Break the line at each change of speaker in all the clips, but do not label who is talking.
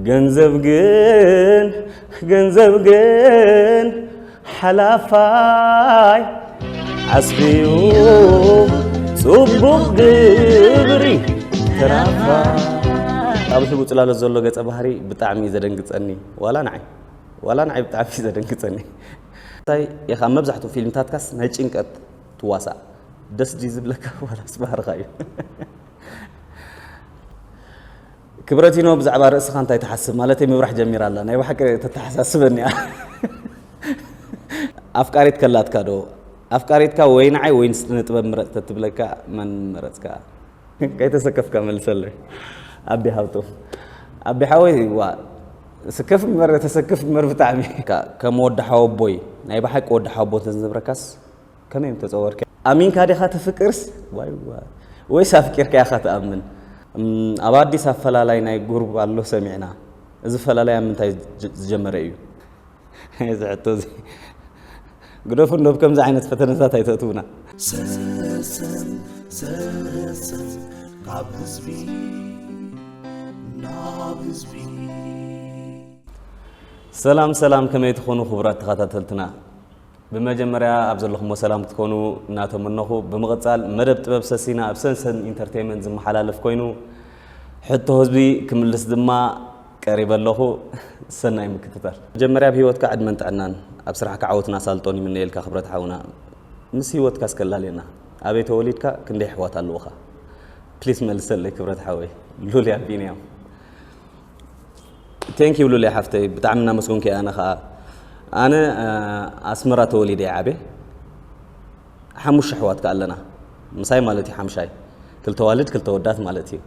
ገንዘብ ግን ገንዘብ ግን ሓላፋይ ዓስቢዩ ጽቡቕ ግብሪ ተራፋይ ኣብዚ ውፅላለት ዘሎ ገፀ ባህሪ ብጣዕሚ እዩ ዘደንግፀኒ ዋላ ንዓይ ዋላ ንዓይ ብጣዕሚ እዩ ዘደንግፀኒ እንታይ ኢኻ መብዛሕትኡ ፊልምታትካስ ናይ ጭንቀት ትዋሳእ ደስ ድዩ ዝብለካ ዋላስ ባህርኻ እዩ ክብረቲኖ ብዛዕባ ርእስኻ እንታይ ትሓስብ ማለተይ ምብራሕ ጀሚራ ኣላ ናይ ብሓቂ ተተሓሳስበኒ እያ ኣፍቃሪት ከላትካ ዶ ኣፍቃሪትካ ወይ ንዓይ ወይ ንስጥበብ ምረጽ ተትብለካ መን መረጽካ ከይተሰከፍካ መልሰለይ ኣቢ ሃብቶም ኣቢ ሓወይ ዋ ስከፍ ምበር ተሰክፍ ምበር ብጣዕሚ ከም ወዲ ሓወቦይ ናይ ብሓቂ ወዲ ሓወቦ እንተዝነብረካስ ከመይ እዮም ተጸወርኪ? ኣሚንካ ዲኻ ትፍቅርስ ዋይዋይ ወይስ ኣፍቂርካ ኢኻ ትኣምን? ኣብ ኣዲስ ኣፈላላይ ናይ ጉርብ ኣሎ ሰሚዕና እዚ ፈላላይ ኣብ ምንታይ ዝጀመረ እዩ? እዚ ሕቶ እዚ ግደፉ እንዶ ኣብ ከምዚ ዓይነት ፈተነታት ኣይተእትውና። ሰሰን ሰሰን ካብ ህዝቢ ናብ ህዝቢ። ሰላም ሰላም ከመይ ትኾኑ ክቡራት ተኸታተልትና ብመጀመርያ ኣብ ዘለኹሞ ሰላም ክትኮኑ እናተመነኹ ብምቕጻል መደብ ጥበብ ሰሲና ኣብ ሰንሰን ኢንተርተይመንት ዝመሓላለፍ ኮይኑ ሕቶ ህዝቢ ክምልስ ድማ ቀሪበ ኣለኹ ሰናይ ምክትታል። መጀመርያ ኣብ ሂወትካ ዕድመን ጥዕናን ኣብ ስራሕካ ዓወትን ኣሳልጦን ይምነየልካ ክብረት ሓውና ምስ ሂወትካ እስከ ኣላልየና ኣበይ ተወሊድካ ክንደይ ኣሕዋት ኣለውኻ ፕሊስ መልሰለይ ክብረት ሓወይ ሉልያ ቢንያም። ቴንክ ዩ ሉልያ ሓፍተይ ብጣዕሚ እናመስገንኩ ኣነ ከዓ ኣነ ኣስመራ ተወሊደ እየ ዓበ ሓሙሽተ ኣሕዋት ከዓ ኣለና ምሳይ ማለት እዩ ሓምሻይ ክልተ ዋልድ ክልተ ወዳት ማለት እዩ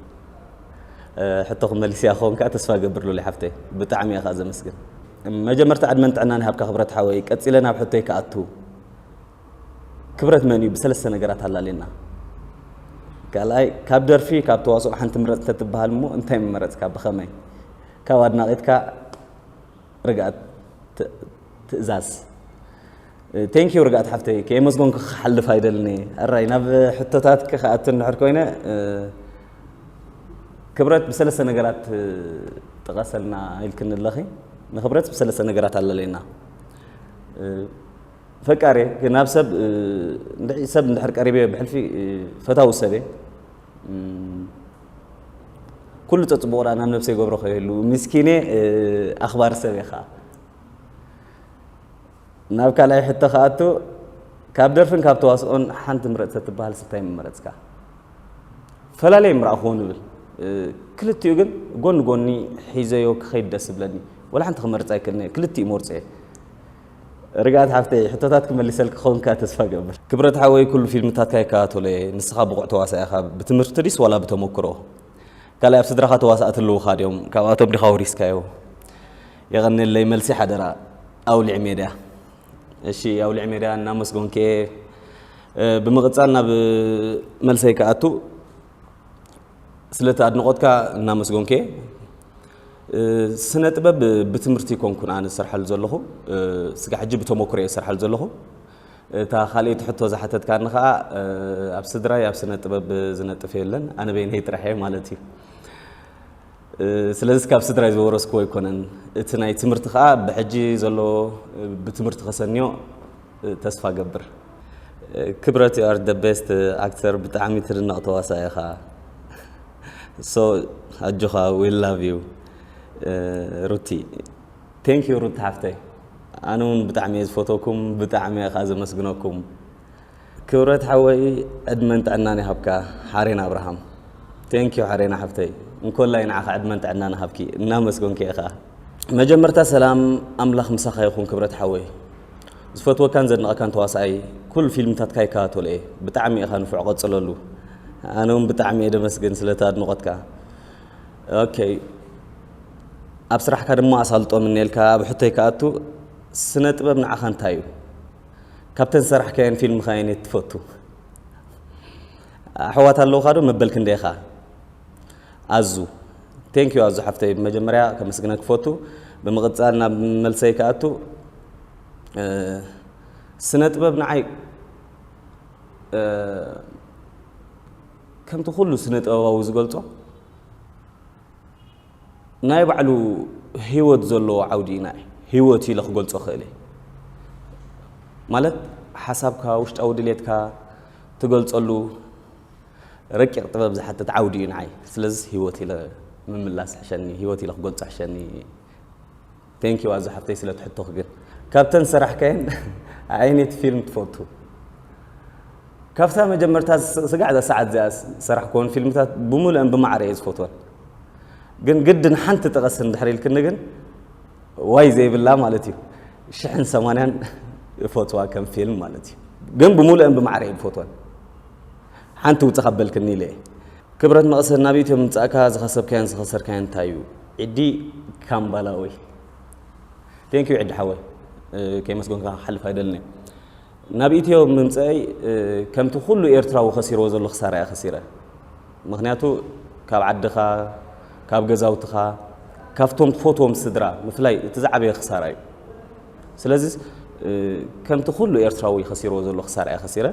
ሕቶ ክመልስ እያ ክኸውን ከዓ ተስፋ ገብር ሉልያ ሓፍተይ ብጣዕሚ እየ ከዓ ዘመስግን መጀመርታ ዕድመን ጥዕናን ይሃብካ ክብረት ሓወይ ቀፂለ ናብ ሕቶይ ክኣቱ ክብረት መን እዩ ብሰለስተ ነገራት ኣላሌና። ካልኣይ ካብ ደርፊ ካብ ተዋስኦ ሓንቲ ምረጽ እንተትበሃል እሞ እንታይ ምመረጽካ ብኸመይ? ካብ ኣድናቒትካ ርግኣት ትእዛዝ ቴንኪዩ ርግኣት ሓፍተይ ከየመስጎንኩ ክሓልፍ ኣይደልን እየ ኣራይ ናብ ሕቶታትኪ ክኣቱ እንድሕር ኮይነ ክብረት ብሰለስተ ነገራት ጥቀሰልና ኢልክኒ ኣለኺ ንክብረት ብሰለስተ ነገራት ኣለለየና ፈቃር እየ ግን ናብ ሰብ ሰብ እንድሕር ቀሪበዮ ብሕልፊ ፈታዊ ሰብ እየ ኩሉ ፀፅቡቑ ናብ ነብሰይ ገብሮ ከየሉ ምስኪነ ኣኽባሪ ሰብ እየ ከዓ ናብ ካልኣይ ሕቶ ከኣቶ ካብ ደርፍን ካብ ተዋስኦን ሓንቲ ምረፅ ተትበሃል ስታይ ምመረፅካ ፈላለየ ምረኣኹዎ ንብል ክልቲኡ ግን ጎኒ ጎኒ ሒዘዮ ክኸይድ ደስ ዝብለኒ ወላ ሓንቲ ክመርፅ ኣይክእልን እየ ክልቲኡ መርፆ እየ ርግኣት ሓፍተይ ሕቶታት ክመሊሰልኪ ክኸውን ከኣ ተስፋ እገብር። ክብረት ሓወይ ኩሉ ፊልምታትካ ይከታተሎ እየ ንስኻ ብቑዕ ተዋሳኢ ኢኻ ብትምህርቲ ድይስ ዋላ ብተመኩሮ ካልእ ኣብ ስድራኻ ተዋሳእቲ ኣለዉኻ ድዮም ካብኣቶም ዲኻ ወሪስካዮ የቐንየለይ መልሲ ሓደራ ኣውሊዕ ሜድያ እሺ ኣውሊዕ ሜድያ እናመስጎንኪ እየ ብምቕጻል ናብ መልሰይ ክኣቱ ስለቲ ኣድንቆትካ እናመስጎንኬ ስነ ጥበብ ብትምህርቲ ኮንኩን ኣነ ዝሰርሓሉ ዘለኹ ስጋ ሕጂ ብተሞክሮ እየ ዝሰርሓሉ ዘለኹ እታ ካልኦይቲ ሕቶ ዝሓተትካኒ ከዓ ኣብ ስድራይ ኣብ ስነ ጥበብ ዝነጥፍ የለን ኣነ በይነይ ጥራሕ እየ ማለት እዩ ስለዚ ካብ ስድራይ ዝወረስክዎ ኣይኮነን እቲ ናይ ትምህርቲ ከዓ ብሕጂ ዘሎ ብትምህርቲ ከሰንዮ ተስፋ እገብር ክብረት you are the best actor ብጣዕሚ ትድነቕ ተዋሳኢ ኢኻ so ኣጆኻ we love you ሩቲ thank you ሩቲ ሓፍተይ ኣነ እውን ብጣዕሚ እየ ዝፈተኩም ብጣዕሚ እየ ከዓ ዘመስግነኩም ክብረት ሓወይ ዕድመን ጥዕናን ይሃብካ ሓሬን ኣብርሃም ቴንክ ዩ ሓሬና ሓፍተይ እንኮላይ ንዓኻ ዕድመን ጥዕና ንሃብኪ እናመስገንኪ እየ ከዓ መጀመርታ ሰላም ኣምላኽ ምሳኻ ይኹን ክብረት ሓወይ ዝፈትወካን ዘድንቐካን ተዋሳኣይ ኩሉ ፊልምታትካ ይከታተሎ እየ ብጣዕሚ ኢኻ ንፉዕ ቀጽለሉ ኣነ ውን ብጣዕሚ እየ ደመስግን ስለቲ ኣድንቖትካ ኦኬ ኣብ ስራሕካ ድማ ኣሳልጦ ምነየልካ ኣብ ሕቶይ ክኣቱ ስነ ጥበብ ንዓኻ እንታይ እዩ ካብተን ሰራሕካየን ፊልምኻ ኣየነየት ትፈቱ ኣሕዋት ኣለውካ ዶ መበል ክንደይኻ ኣዙ Thank you ኣዙ ሓፍተይ ብመጀመርያ ከመስግነክ ክፈቱ ብምቕጻል ናብ መልሰይ ክኣቱ ስነ ጥበብ ንዓይ ከምቲ ኩሉ ስነ ጥበባዊ ዝገልጾ ናይ ባዕሉ ህይወት ዘለዎ ዓውዲ ኢና ህይወት ኢለ ክገልጾ ክእል ማለት ሓሳብካ ውሽጣዊ ድሌትካ ትገልጸሉ ረቂቕ ጥበብ ዝሓትት ዓውዲ እዩ ንዓይ ስለዝስ ሂወት ኢለ ምምላስ ይሕሸኒ ሂወት ኢለ ክገልጾ ይሕሸኒ Thank you ኣዙ ሓፍተይ ስለ እቲ ሕቶኺ ግን ካብተን ዝሰራሕካየን ኣየነይቲ ፊልም ትፈቱ ካብታ መጀመርታ ስጋዕ ዘሰዓት እዚኣ ዝሰራሕክወን ፊልምታት ብምሉአን ብማዕረ እየ ዝፈትወን ግን ግድን ሓንቲ ጥቀስ እንድሕር ኢልክኒ ግን ዋይ ዘይብላ ማለት እዩ ሽሕን ሰማንያን እፈትዋ ከም ፊልም ማለት እዩ ግን ብምሉአን ብማዕረ እየ ዝፈትወን ሓንቲ ውጽእ ካብ በልክኒ ኢለ ክብረት መቐሰን ናብ ኢትዮ ምምጻእካ ዝኸሰብካዮን ዝኸሰርካዮን እንታይ እዩ? ዒዲ ካምባላኦይ ቴንክ ዩ ዒዲ ሓወይ ከይመስጎንካ ክሓልፍ ኣይደልን ናብ ኢትዮ ምምጻእይ ከምቲ ኩሉ ኤርትራዊ ከሲርዎ ዘሎ ክሳራ እያ ከሲረ ምክንያቱ ካብ ዓድኻ ካብ ገዛውትኻ ካብቶም ትፈትዎም ስድራ ምፍላይ እቲ ዝዓበየ ክሳራ እዩ ስለዚ ከምቲ ኩሉ ኤርትራዊ ከሲርዎ ዘሎ ክሳራ እያ ከሲረ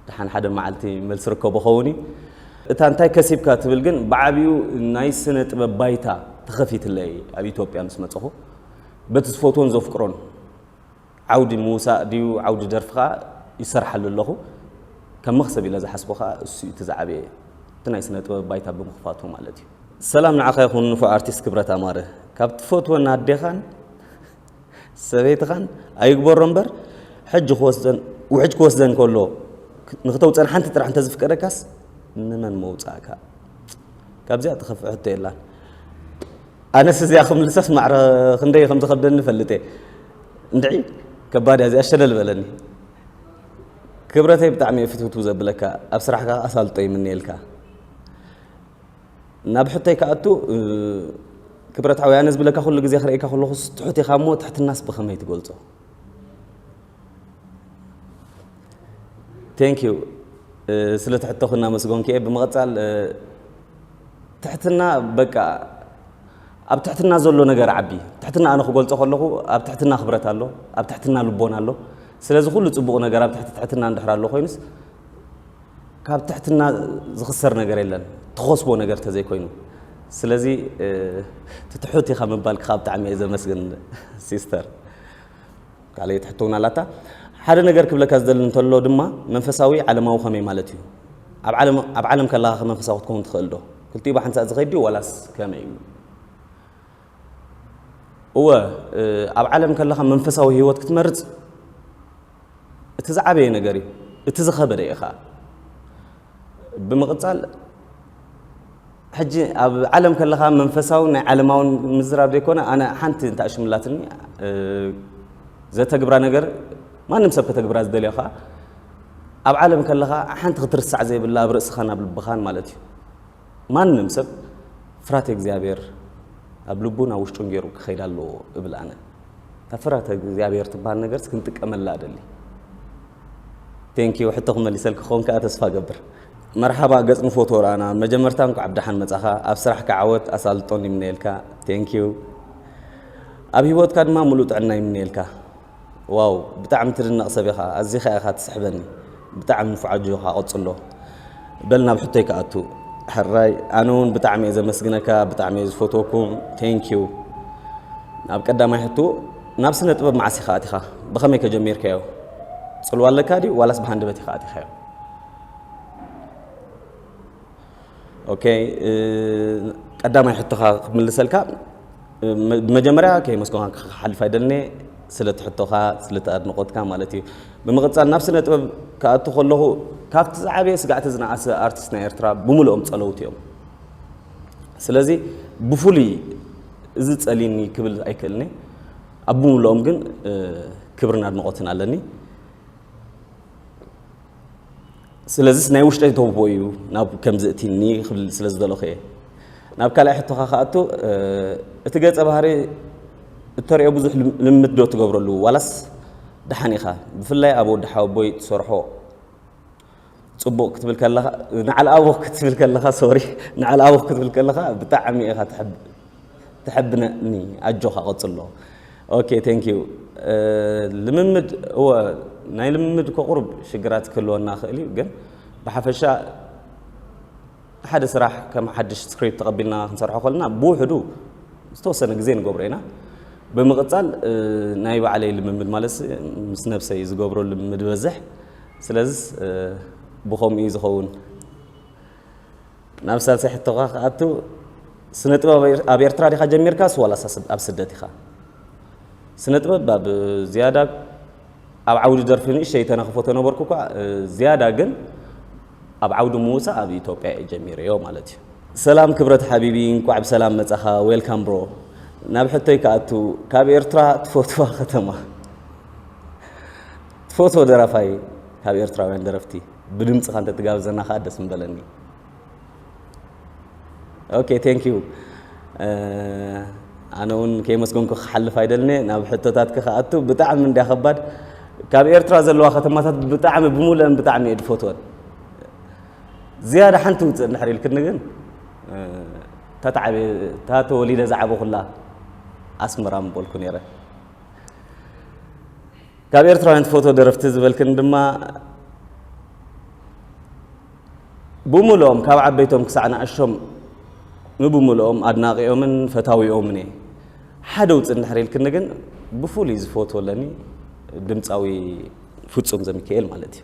ደሓን ሓደ መዓልቲ መልሲ ርከቦ ኸውን እዩ። እታ እንታይ ከሲብካ ትብል ግን ብዓቢኡ ናይ ስነ ጥበብ ባይታ ተኸፊትለይ ኣብ ኢትዮጵያ ምስ መጸኹ በቲ ዝፈትዎን ዘፍቅሮን ዓውዲ ምውሳእ ድዩ ዓውዲ ደርፊ ከኣ ይሰርሓሉ ኣለኹ ከም መኽሰብ ኢለ ዝሓስቦ ከኣ እሱ እቲ ዝዓበየ እቲ ናይ ስነ ጥበብ ባይታ ብምኽፋቱ ማለት እዩ። ሰላም ንዓኻ ይኹን ንፉዕ ኣርቲስት ክብረት ኣማረ ካብ ትፈትወን ኣዴኻን ሰበይትኻን ኣይግበሮ እምበር ሕጂ ክወስደን ውሕጅ ክወስደን ከሎ ንክተውፀን ሓንቲ ጥራሕ እንተዝፍቀደካስ ንመን መውፃእካ ካብዚኣ ትኸፍእ ሕቶ የላን ኣነስ እዚኣ ክምልሰስ ማዕረ ክንደይ ከም ዝኸብደኒ ፈልጥ እየ እንድዒ ከባድ እያ እዚኣ ሸለል በለኒ ክብረተይ ብጣዕሚ እየ ፍትውትው ዘብለካ ኣብ ስራሕካ ኣሳልጦ ይምንየልካ ናብ ሕቶይ ክኣቱ ክብረታዊ ኣነ ዝብለካ ኩሉ ግዜ ክርእየካ ከለኹስ ትሑት ኢኻ እሞ ትሕትናስ ብኸመይ ትገልጾ ቴንክ ዩ ስለ ትሕተኹ እናመስገንኩ እየ ብምቕፃል ትሕትና በቃ ኣብ ትሕትና ዘሎ ነገር ዓቢ ትሕትና ኣነ ክገልፆ ከለኹ ኣብ ትሕትና ክብረት ኣሎ ኣብ ትሕትና ልቦና ኣሎ ስለዚ ኩሉ ፅቡቕ ነገር ኣብ ትሕቲ ትሕትና እንድሕር ኣሎ ኮይኑስ ካብ ትሕትና ዝኽሰር ነገር የለን ትኸስቦ ነገር ተዘይኮይኑ ስለዚ እቲ ትሑት ኢኻ ምባልኪ ካብ ብጣዕሚ እየ ዘመስግን ሲስተር ካልኣይቲ ሕቶ እውን ኣላታ ሓደ ነገር ክብለካ ዝደሊ እንተሎ ድማ መንፈሳዊ ዓለማዊ ከመይ ማለት እዩ ኣብ ዓለም ከለኻ ከመንፈሳዊ ክትከውን ትኽእል ዶ ክልቲኡ ብሓንሳእ ዝኸይድ ድዩ ዋላስ ከመይ እዩ እወ፣ ኣብ ዓለም ከለኻ መንፈሳዊ ህይወት ክትመርጽ እቲ ዝዓበየ ነገር እዩ፣ እቲ ዝኸበደ እዩ ኸኣ። ብምቕጻል ሕጂ ኣብ ዓለም ከለኻ መንፈሳውን ናይ ዓለማውን ምዝራብ ዘይኮነ ኣነ ሓንቲ እንታይ ሽምላትኒ ዘተግብራ ነገር ማንም ሰብ ከተግብራ ዝደልዮ ኸኣ ኣብ ዓለም ከለኻ ሓንቲ ክትርሳዕ ዘይብላ ኣብ ርእስኻን ኣብ ልብኻን ማለት እዩ ማንም ሰብ ፍርሃተ እግዚኣብሔር ኣብ ልቡን ኣብ ውሽጡን ገይሩ ክኸይድ ኣለዎ እብል ኣነ። እታ ፍርሃተ እግዚኣብሔር ትበሃል ነገርስ ክንጥቀመላ እደሊ። ቴንክ ዩ ሕቶ ክመሊሰልኪ ክኸውን ከኣ ተስፋ እገብር። መርሓባ ገጽ ንፎቶ ርኣና ኣብ መጀመርታ እንኳዕ ብደሓን መጻኻ ኣብ ስራሕካ ዓወት ኣሳልጦን ይምነየልካ ቴንኪው ኣብ ሂወትካ ድማ ምሉእ ጥዕና ይምነየልካ። ዋው ብጣዕሚ ትድነቅ ሰብ ኢኻ ኣዚኻ ኢኻ ትስሕበኒ ብጣዕሚ ንፉዕ ኣጆኻ ቀጽሎ በል ናብ ሕቶይ ክኣቱ ሕራይ ኣነ ውን ብጣዕሚ እየ ዘመስግነካ ብጣዕሚ እየ ዝፈትወኩም ቴንክ ዩ ናብ ቀዳማይ ሕቶ ናብ ስነ ጥበብ መዓስ ኢኻ ኣቲኻ ብኸመይ ከጀሚርካዮ ጽልዋ ኣለካ ድዩ ዋላስ ብሃንደበት ኢኻ ኣቲኻዮ ኦኬ ቀዳማይ ሕቶኻ ክምልሰልካ ብመጀመርያ ከየመስገንካ ክሓልፍ ኣይደልንየ ስለቲ ሕቶኻ ስለቲ ኣድንቖትካ ማለት እዩ ብምቕፃል ናብ ስነ ጥበብ ክኣቱ ከለኹ ካብቲ ዝዓበየ ስጋዕቲ ዝነኣሰ ኣርቲስት ናይ ኤርትራ ብምልኦም ጸለውቲ እዮም ስለዚ ብፍሉይ እዚ ጸሊኒ ክብል ኣይክእልኒ ኣብ ብምልኦም ግን ክብርን ኣድንቖትን ኣለኒ ስለዚስ ናይ ውሽጠይ ተውቦ እዩ ናብ ከምዚ እቲኒ ክብል ስለ ዝደለኹ እየ ናብ ካልኣይ ሕቶኻ ክኣቱ እቲ ገጸ ባህሪ እተሪኦ ብዙሕ ልምምድ ዶ ትገብረሉ ዋላስ ደሓን ኢኻ ብፍላይ ኣብ ወዲ ሓወቦይ ትሰርሖ ፅቡቕ ክትብል ከለኻ ንዓል ኣቦ ክትብል ከለኻ ሶሪ ንዓል ኣቦ ክትብል ከለኻ ብጣዕሚ ኢኻ ትሕብ ተሐብነኒ ኣጆኻ ቀጽሎ ኦኬ ቴንክ ዩ ልምምድ እወ ናይ ልምምድ እኮ ቁሩብ ሽግራት ክህልወና ይኽእል እዩ ግን ብሓፈሻ ሓደ ስራሕ ከም ሓድሽ ስክሪፕት ተቐቢልና ክንሰርሖ ከለና ብውሕዱ ዝተወሰነ ግዜ ንገብሮ ኢና ብምቕጻል ናይ ባዕለይ ልምምድ ማለት ምስ ነብሰይ ዝገብሮ ልምምድ በዝሕ ስለዚ ብኸምኡ እዩ ዝኸውን ናብ ሳልሳይ ሕቶኻ ክኣቱ ስነ ጥበብ ኣብ ኤርትራ ዲኻ ጀሚርካስ ዋላስ ኣብ ስደት ኢኻ? ስነ ጥበብ ኣብ ዝያዳ ኣብ ዓውዲ ደርፊ ንእሸተይ ተነኽፎ ተነበርኩ እኳ ዝያዳ ግን ኣብ ዓውዲ ምውጻእ ኣብ ኢትዮጵያ እየ ጀሚረዮ ማለት እዩ። ሰላም ክብረት ሓቢቢ እንቋዕ ብሰላም መጻኻ ዌልካም ብሮ ናብ ሕቶይ ክኣቱ ካብ ኤርትራ ትፈትዋ ከተማ ትፈትዎ ደራፋይ ካብ ኤርትራውያን ደረፍቲ ብድምጽኻ እንተትጋብዘና ከኣ ደስ ምበለኒ። ኦኬ ቴንክ ዩ ኣነ እውን ከይመስገንኩ ክሓልፍ ኣይደልንየ ናብ ሕቶታትክ ክኣቱ ብጣዕሚ እንድያ ከባድ ካብ ኤርትራ ዘለዋ ከተማታት ብጣዕሚ ብምሉአን ብጣዕሚ እየ ድፈትወን ዝያዳ ሓንቲ ውፅእ እንድሕር ኢልክኒ ግን እታ ተወሊደ ዝዓበኹላ ኣስመራ ምበልኩ ነይረ ካብ ኤርትራውያን ትፈትዎ ደረፍቲ ዝበልክን ድማ ብምልኦም ካብ ዓበይቶም ክሳዕ ንኣሾም ንብምልኦም ኣድናቂኦምን ፈታዊኦምን እየ ሓደ ውፅእ እንድሕር ኢልክኒ ግን ብፍሉይ ዝፈትዎ ኣለኒ ድምፃዊ ፍፁም ዘሚካኤል ማለት እዩ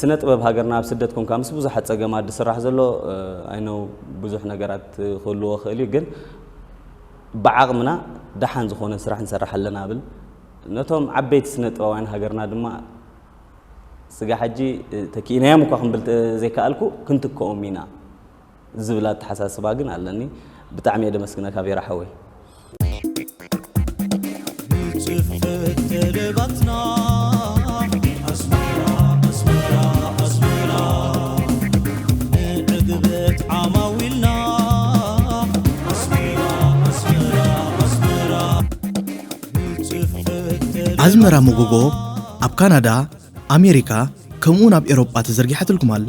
ስነ ጥበብ ሃገርና ኣብ ስደት ኮንካ ምስ ብዙሓት ጸገማት ዝስራሕ ዘሎ ኣይ ኖው ብዙሕ ነገራት ክህልዎ ክእል እዩ ግን ብዓቕምና ደሓን ዝኾነ ስራሕ ንሰራሕ ኣለና ብል ነቶም ዓበይቲ ስነ ጥበባውያን ሃገርና ድማ ስጋ ሕጂ ተኪኢናዮም እኳ ክንብል ዘይከኣልኩ ክንትክኦም ኢና ዝብል ኣተሓሳስባ ግን ኣለኒ ብጣዕሚ እየ ደመስግነካ ቬራ ሓወይ። ንጽሕፍ
ተለባትና ኣዝመራ መጎጎ ኣብ ካናዳ፣ ኣሜሪካ ከምኡውን ኣብ ኤውሮጳ ተዘርጊሓትልኩም ኣላ።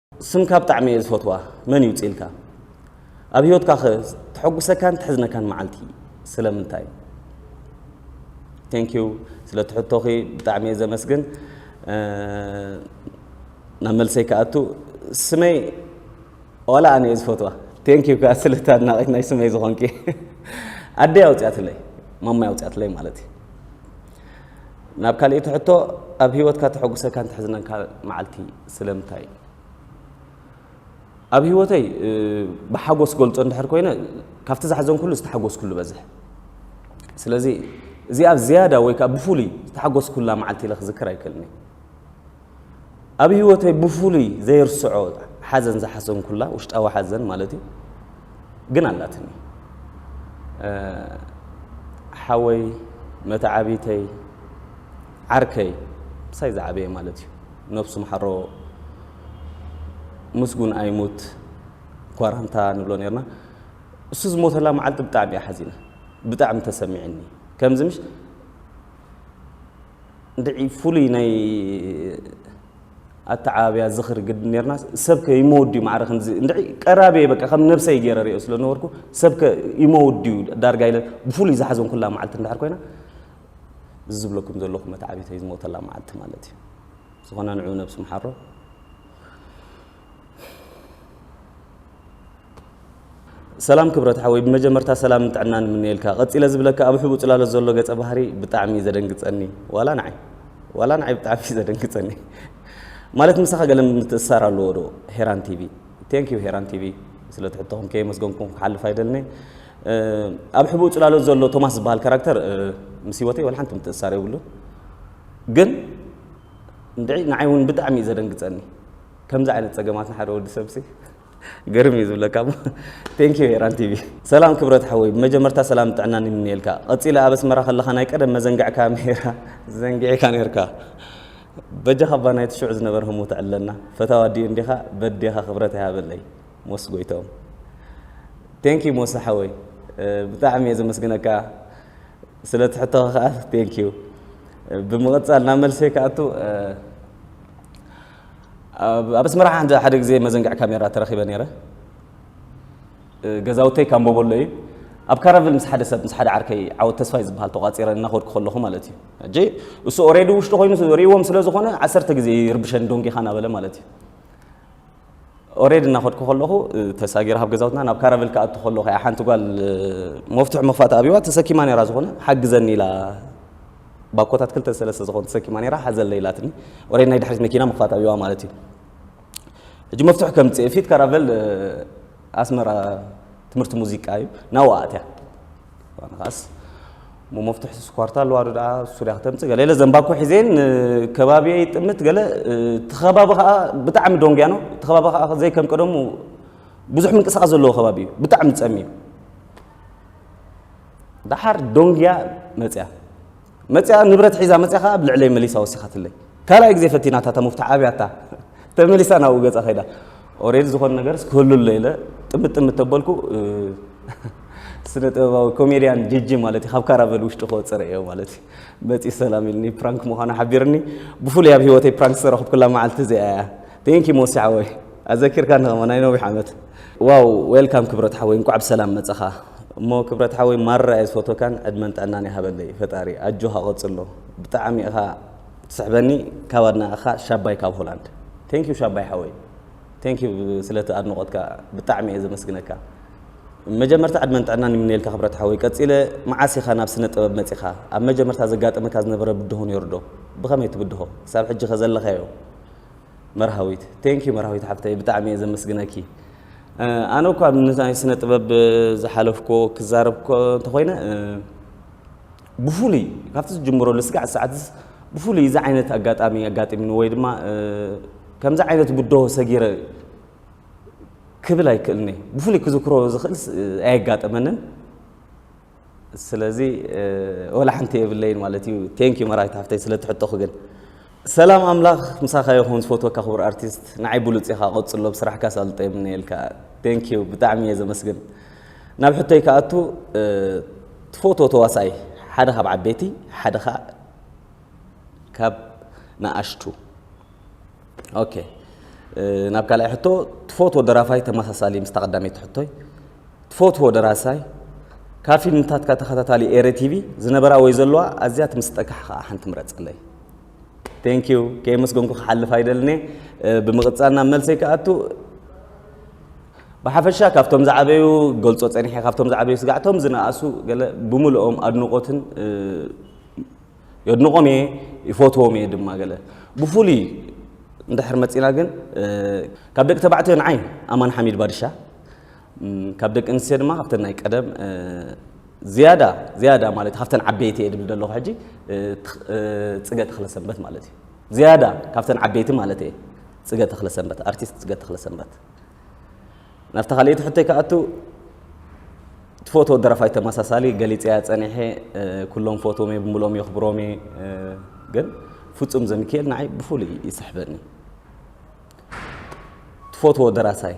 ስምካ ብጣዕሚ እየ ዝፈትዋ መን ይውፅ ኢልካ ኣብ ሂወትካ ከ ተሐጉሰካን ተሕዝነካን መዓልቲ ስለምንታይ ቴንኪዩ ስለ ትሕቶኺ ብጣዕሚ እየ ዘመስግን ናብ መልሰይ ክኣቱ ስመይ ዋላ ኣነ እየ ዝፈትዋ ቴንኪዩ ከዓ ስለቲ ኣድናቂት ናይ ስመይ ዝኾንኪ ኣደይ ኣውፅያትለይ ማማይ ኣውፅያትለይ ማለት እዩ ናብ ካልእቲ ሕቶ ኣብ ሂወትካ ተሐጉሰካን ትሕዝነካ መዓልቲ ስለምንታይ እዩ ኣብ ሂወተይ ብሓጎስ ገልፆ እንድሕር ኮይነ ካብቲ ዝሓዘንኩሉ ዝተሓጎስኩሉ በዝሕ ስለዚ እዚኣ ዝያዳ ወይ ከዓ ብፍሉይ ዝተሓጎስኩላ መዓልቲ ኢለ ክዝክር ኣይክእልኒ ኣብ ህይወተይ ብፍሉይ ዘይርስዖ ሓዘን ዝሓዘንኩላ ውሽጣዊ ሓዘን ማለት እዩ ግን ኣላትኒ ሓወይ መተዓቢተይ ዓርከይ ምሳይ ዝዓበየ ማለት እዩ ነብሱ ምሓሮ ምስጉን ኣይሙት ኳራንታ ንብሎ ነርና እሱ ዝሞተላ መዓልቲ ብጣዕሚ እያ ሓዚነ ብጣዕሚ ተሰሚዕኒ ከምዚ ምሽ እንድዒ ፍሉይ ናይ ኣተዓባብያ ዝኽሪ ግዲ ነርና ሰብከ ይመውድዩ ማዕረ ከምዚ እንድዒ ቀራብየ በቃ ከም ነብሰይ ገይረ ሪኦ ስለ ነበርኩ ሰብከ ይመውድዩ ዳርጋ ኢለ ብፍሉይ ዝሓዘንኩላ መዓልቲ እንድሕር ኮይና እዚ ዝብለኩም ዘለኹ መትዓቢተይ ዝሞተላ መዓልቲ ማለት እዩ ዝኾነ ንዑ ነብሱ ምሓሮ ሰላም ክብረት ሓወይ ብመጀመርታ ሰላምን ጥዕናን እምነየልካ ቀጺለ ዝብለካ ኣብ ሕቡእ ጽላሎት ዘሎ ገጸ ባህሪ ብጣዕሚ እዩ ዘደንግጸኒ ዋላ ንዓይ ዋላ ንዓይ ብጣዕሚ እዩ ዘደንግጸኒ ማለት ምሳኻ ገለ ምትእስሳር ኣለዎ ዶ ሄራን ቲቪ ቴንክ ዩ ሄራን ቲቪ ስለ ትሕቶኹም ከየመስገንኩም ክሓልፍ ኣይደልኒ ኣብ ሕቡእ ጽላሎት ዘሎ ቶማስ ዝበሃል ካራክተር ምስ ህይወተይ ወላ ሓንቲ ምትእስሳር የብሉን ግን እንድዒ ንዓይ ውን ብጣዕሚ እዩ ዘደንግጸኒ ከምዚ ዓይነት ጸገማት ንሓደ ወዲ ሰብሲ ግርም እዩ ዝብለካ እሞ ቴንክ ዩ ኤራን ቲቪ ሰላም ክብረት ሓወይ ብመጀመርታ ሰላም ጥዕናን ይምነየልካ ቀጺለ ኣብ ኣስመራ ከለኻ ናይ ቀደም መዘንግዕካ ሜራ ዘንጊዕካ ኔርካ በጃኻ እባ ናይቲ ሽዑ ዝነበረ ህሞት ዕለና ፈታዋ ዲዩ እንዲኻ በዴኻ ክብረት ይሃበለይ ሞስ ጎይቶም ቴንክ ዩ ሞስ ሓወይ ብጣዕሚ እየ ዘመስግነካ ስለቲ ሕቶኻ ከኣ thank you ብምቕጻል ናብ መልሰይ ክኣቱ ኣብ ኣስመራ ሓደ ግዜ መዘንግዕ ካሜራ ተረኺበ ነይረ ገዛውተይ ካምቦቦሎ እዩ ኣብ ካራቭል ምስ ሓደ ሰብ ምስ ሓደ ዓርከይ ዓወት ተስፋይ ዝበሃል ተቋፂረ እናኸድኩ ከለኹ ማለት እዩ እጂ እሱ ኦሬዲ ውሽጢ ኮይኑ ሪእዎም ስለ ዝኾነ ዓሰርተ ግዜ ይርብሸን ዶንጌኻ ናበለ ማለት እዩ ኦሬድ እናኸድኩ ከለኹ ተሳጊረ ካብ ገዛውትና ናብ ካራቨል ክኣቱ ከለኹ እያ ሓንቲ ጓል መፍትሑ መኽፋእቲ ኣብዋ ተሰኪማ ነራ ዝኾነ ሓግዘኒ ኢላ ባኮታት ክልተ ሰለስተ ዝኾኑ ተሰኪማ ነራ ሓዘለ ኢላትኒ ኦሬድ ናይ ድሕሪት መኪና መኽፋእቲ ኣብዋ ማለት እዩ ሕጂ መፍትሑ ከምፅእ ፊት ካራቨል ኣስመራ ትምህርቲ ሙዚቃ እዩ ናብኡ ኣእትያ ኣነ ከኣስ እሞ መፍትሒ ስኳርታ ኣለዋ ዶ ደኣ ሱርያ ክተምፅእ ገለ ኢለ ዘንባኮ ሒዘ ንከባቢየ ይጥምት ገለ እቲ ከባቢ ከዓ ብጣዕሚ ዶንግያ ነው እቲ ከባቢ ከዓ ዘይከም ቀደሙ ብዙሕ ምንቅስቃስ ዘለዎ ከባቢ እዩ ብጣዕሚ ፀምዩ ደሓር ዶንግያ መፅያ መጺኣ ንብረት ሒዛ መጺኣ ከኣ ኣብ ልዕለይ መሊሳ ወሲኻትለይ ካልኣይ ግዜ ፈቲናታ እታ ሙፍታሕ ኣብያታ ተመሊሳ ናብኡ ገጻ ከይዳ ኦሬድ ዝኾነ ነገርስ ክህሉ ኣሎ ኢለ ጥምት ጥምት ተበልኩ ስነ ጥበባዊ ኮሜድያን ጅጂ ማለት እዩ ካብ ካራቨል ውሽጢ ክወፅረ እዮ ማለት እዩ መፂ ሰላም ኢልኒ ፕራንክ ምዃኑ ሓቢርኒ ብፍሉይ ኣብ ሂወተይ ፕራንክ ዝተረኽብኩላ መዓልቲ እዚኣ እያ Thank you ሞሲ ሓወይ ኣዘኪርካኒ ከማን ናይ ነዊሕ ዓመት። ዋው ዌልካም ክብረት ሓወይ እንቋዕ ብሰላም መጻኻ እሞ ክብረት ሓወይ ማራ እየ ዝፈትወካን ዕድመን ጥዕናን ይሃበለይ ፈጣሪ ኣጆኻ ቀጽሎ ብጣዕሚ ኢኻ ትስሕበኒ ካብ ኣድናቕኻ ሻባይ ካብ ሆላንድ ቴንክ ዩ ሻባይ ሓወይ ቴንክ ዩ ስለቲ ኣድንቖትካ ብጣዕሚ እየ ዘመስግነካ መጀመርታ ዕድመን ጥዕናን ይምነየልካ ክብረት ሓወይ ቀጺለ መዓስ ኢኻ ናብ ስነ ጥበብ መጺኻ ኣብ መጀመርታ ዘጋጠመካ ዝነበረ ብድሆ ነይሩ ዶ ብኸመይ ትብድሆ ክሳብ ሕጂ ከ ዘለኻዮ መርሃዊት thank you መርሃዊት ሓፍተይ ብጣዕሚ እየ ዘመስግነኪ ኣነ እኳ ንናይ ስነ ጥበብ ዝሓለፍኮ ክዛረብ እንተኾይነ ብፍሉይ ካብቲ ዝጅምሮ ልስጋዕ ሰዓት ብፍሉይ እዚ ዓይነት ኣጋጣሚ ኣጋጢምኒ ወይ ድማ ከምዚ ዓይነት ብድሆ ሰጊረ ክብል ኣይክእልን እየ ብፍሉይ ክዝክሮ ዝኽእል ኣየጋጠመንን ስለዚ ወላ ሓንቲ የብለይን ማለት እዩ። ቴንክ ዩ መራዊት ሓፍተይ ስለ እቲ ሕቶኺ ግን። ሰላም ኣምላኽ ምሳኻ ይኹን ዝፈትወካ ክቡር ኣርቲስት ንዓይ ብሉጽ ኢኻ ቀጽሎ ብስራሕካ ኣሳልጦ ይምነየልካ ቴንክ ዩ ብጣዕሚ እየ ዘመስግን ናብ ሕቶይ ክኣቱ ትፈትዎ ተዋሳኢ ሓደ ካብ ዓበይቲ ሓደ ከኣ ካብ ንኣሽቱ ኦኬ ናብ ካልኣይ ሕቶ ትፈትዎ ደራፋይ ተመሳሳሊ ምስታ ቀዳመይቲ ሕቶይ ትፈትዎ ደራሳይ ካብ ፊልምታትካ ተኸታታሊ ኤረ ቲቪ ዝነበራ ወይ ዘለዋ ኣዝያ ትምስጠካ ከኣ ሓንቲ ምረጸለይ ቴንክ ዩ ከየመስገንኩ ክሓልፍ ኣይደልኔ ብምቕጻል ናብ መልሰይ ክኣቱ ብሓፈሻ ካብቶም ዝዓበዩ ገልጾ ጸኒሐ ካብቶም ዝዓበዩ ስጋዕቶም ዝነኣሱ ገለ ብምልኦም ኣድንቆትን የድንቆም እየ ይፈትዎም እየ ድማ ገለ ብፍሉይ እንድሕር መፂና ግን ካብ ደቂ ተባዕትዮ ንዓይ ኣማን ሓሚድ ባድሻ ካብ ደቂ ኣንስትዮ ድማ ካብተን ናይ ቀደም ዝያዳ ዝያዳ ማለት ካብተን ዓበይቲ እየ ድብል ዘለኹ ሕጂ ፅገ ተኽለሰንበት ማለት እዩ ዝያዳ ካብተን ዓበይቲ ማለት እየ ፅገ ተኽለሰንበት ኣርቲስት ፅገ ተኽለሰንበት ናብቲ ካልእቲ ሕቶይ ክኣቱ ትፈትዎ ደረፋይ ተመሳሳሊ ገሊፀ እያ ፀኒሐ ኩሎም ፈትዎም እየ ብምሎም የኽብሮም እየ ግን ፍፁም ዘሚካኤል ንዓይ ብፍሉይ ይስሕበኒ ትፈትዎ ደራሳይ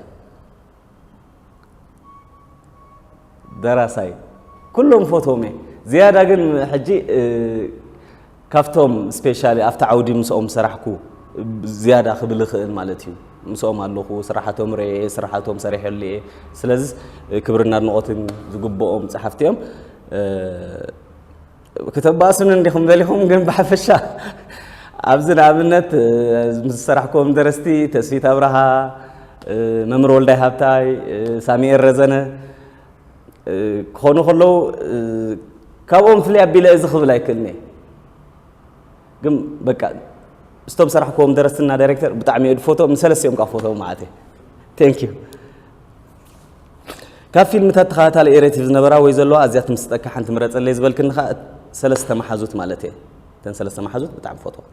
ደራሳይ ኩሎም ፎቶም እየ ዝያዳ ግን ሕጂ ካብቶም ስፔሻሊ ኣብቲ ዓውዲ ምስኦም ሰራሕኩ ዝያዳ ክብል ይኽእል ማለት እዩ ምስኦም ኣለኹ ስራሓቶም ርአ ስራሓቶም ሰሪሐሉ እየ ስለዚ ክብርና ኣድንቖትን ዝግብኦም ፀሓፍቲ እዮም ክተባእሱኒ እንዲኹም ደሊኹም ግን ብሓፈሻ ኣብዚ ንኣብነት ምስ ዝሰራሕክዎም ደረስቲ ተስፊት ኣብርሃ፣ መምህር ወልዳይ ሃብታይ፣ ሳሚኤል ረዘነ ክኾኑ ከለዉ ካብኦም ፍልይ ኣቢለ እዚ ክብል ኣይክእልን እየ ግን በቃ ስቶም ሰራሕክዎም ደረስትና ዳይሬክተር ብጣዕሚ እየ ድፎቶም ንሰለስቲኦም ካብ ፎቶም መዓት እየ ቴንክ ዩ ካብ ፊልምታት ተኸታታሊ ኤሬቲቭ ዝነበራ ወይ ዘለዋ ኣዝያ ትምስጠካ ሓንቲ ምረጸለይ ዝበልክኒ ከኣ ሰለስተ መሓዙት ማለት እየ እተን ሰለስተ መሓዙት ብጣዕሚ ፈትዋ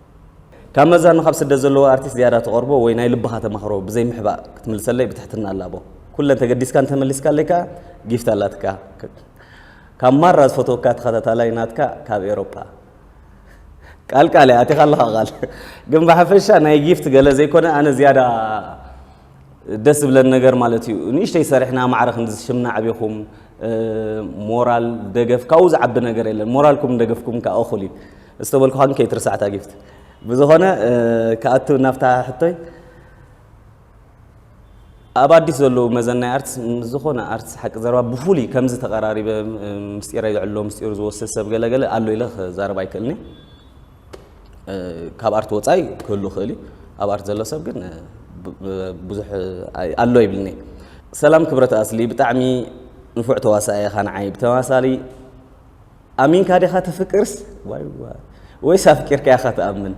ካብ መዛኑ ካብ ስደት ዘለዎ ኣርቲስት ዝያዳ ተቐርቦ ወይ ናይ ልብኻ ተማኽሮ ብዘይ ምሕባእ ክትምልሰለይ ብትሕትና ኣላቦ ኩለን ተገዲስካ እንተመሊስካለይ ከኣ ጊፍት ኣላትካ ካብ ማራ ዝፈትወካ ተኸታታላይ ናትካ ካብ ኤሮፓ ቃልቃል እያ ኣቲኻ ኣለኻ ቃል ግን ብሓፈሻ ናይ ጊፍት ገለ ዘይኮነ ኣነ ዝያዳ ደስ ዝብለን ነገር ማለት እዩ ንእሽተይ ሰሪሕና ማዕረ ክንዲ ሽምና ዕቢኹም ሞራል ደገፍ ካብኡ ዝዓቢ ነገር የለን ሞራልኩም ደገፍኩም ከዓ እኹል እዩ ዝተበልኩኻ ግን ከይትርስዓታ ጊፍት ብዝኾነ ክኣቱ ናብታ ሕቶይ ኣብ ኣዲስ ዘለዉ መዘናይ ኣርትስ ምስ ዝኾነ ኣርትስ ሓቂ ዘረባ ብፍሉይ ከምዚ ተቐራሪበ ምስጢረ ይዕሎ ምስጢሩ ዝወስድ ሰብ ገለገለ ኣሎ ኢለ ክዛረብ ኣይክእልኒ ካብ ኣርት ወፃኢ ክህሉ ይኽእል እዩ ኣብ ኣርት ዘሎ ሰብ ግን ብዙሕ ኣሎ ይብልኒ ሰላም ክብረት ኣስሊ ብጣዕሚ ንፉዕ ተዋሳኢ ኢኻ ንዓይ ብተመሳሳሊ ኣሚንካ ዲኻ ትፍቅርስ ዋይ ዋይ ወይስ ኣፍቂርካ ኢኻ ትኣምን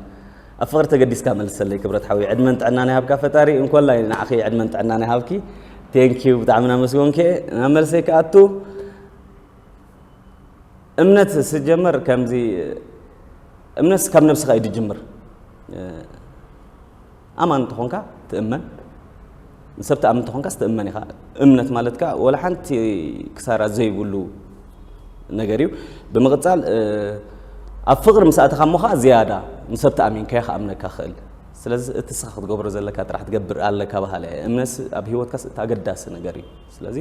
ኣብ ፍቕሪ ተገዲስካ መልሰለይ ክብረት ሓዊ ዕድመን ጥዕናን ይሃብካ ፈጣሪ እንኮላይ ንዓኺ ዕድመን ጥዕናን ይሃብኪ ቴንኪዩ ብጣዕሚ ናመስጎንከ ናብ መልሰይ ክኣቱ እምነት ስጀመር ከምዚ እምነት ካብ ነብስኻ እዩ ዝጅምር ኣማን እንተኾንካ ትእመን ንሰብ ትኣምን እንተኾንካ ስትእመን ኢኻ እምነት ማለት ከዓ ወላ ሓንቲ ክሳራ ዘይብሉ ነገር እዩ ብምቕፃል ኣብ ፍቕሪ ምስ ኣተኻ እሞ ከዓ ዝያዳ ንሰብ ተኣሚንካዮ ክኣምነካ ክእል ስለዚ እቲ ስኻ ክትገብሮ ዘለካ ጥራሕ ትገብር ኣለካ በሃለ እምነት ኣብ ሂወትካስ እቲ ኣገዳሲ ነገር እዩ ስለዚ